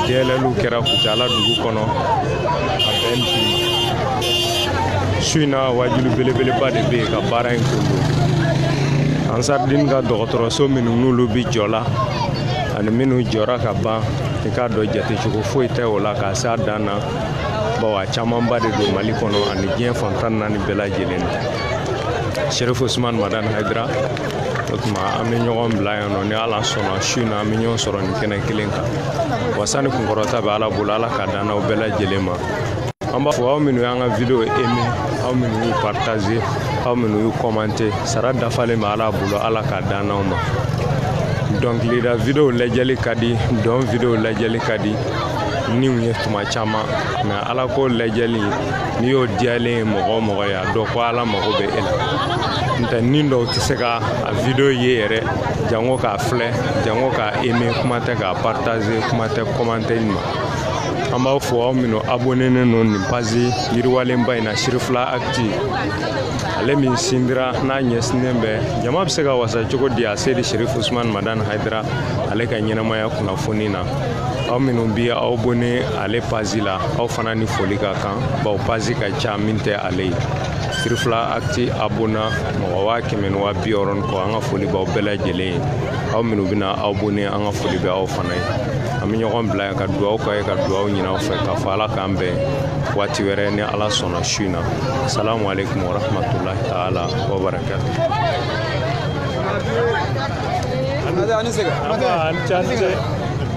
dayɛlɛliw kɛra kucala dugu kɔnɔ a bɛn bi su in na waajuli belebeleba de bɛ yen ka baara in kundon ansaridini ka dɔgɔtɔrɔso minnu n'olu bi jɔ la ani minnu jɔra ka ban i k'a dɔn jatecogo foyi tɛ o la k'a s'a dan na bawo a camanba de don mali kɔnɔ ani diɲɛ fan tan naani bɛɛ lajɛlen na sherif usman madan haidara o tuma an bɛ ɲɔgɔn bila yan nɔ ni ala sɔnna su in na an bɛ ɲɔgɔn sɔrɔ nin kɛnɛ kelen kan wasa ni kunkɔrɔta bɛ ala bolo ala k'a d'an n'aw bɛɛ lajɛlen ma an b'a fɔ aw minnu y'an ka video aimer aw minnu y'u partager aw minnu y'u commenter sara dafalen bɛ ala bolo ala k'a d'an n'aw ma dɔnkilida video lajɛli ka di dɔn video lajɛli ka di niw ye tuma caman mais ala ko lajɛli n'i y'o diyalen ye mɔgɔ o mɔgɔ ye a dɔn ko ala mago bɛ e la n tɛ ni dɔw tɛ se ka a video ye yɛrɛ jango k'a filɛ jango k'a eme kuma tɛ k'a partaze kuma tɛ kɔmante ma an b'aw fo aw minnu abonenen don nin page yiriwalenba in na sirifila akiti ale min sindira n'a ɲɛsinnen bɛ jama bɛ se ka wasa cogo di aseyidi serifu usumani madani hayidara ale ka ɲɛnamaya kunnafoni na aw minnu bi aw abone ale pazi la aw fana ni foli ka kan baw pazi ka ca min tɛ ale ye sirifila akti abona mɔgɔ waa kɛmɛ ni waa bi wɔɔrɔ ni kɔ an ka foli b'aw bɛɛ lajɛlen ye aw minnu bɛna aw abone an ka foli bɛ aw fana ye an bɛ ɲɔgɔn bila yan ka duwaw k'aw ye ka duwaw ɲini aw fɛ k'a fɔ ala k'an bɛn waati wɛrɛ ni ala sɔnna su in na salamu aleykum warahmatulahi taala wabarakatu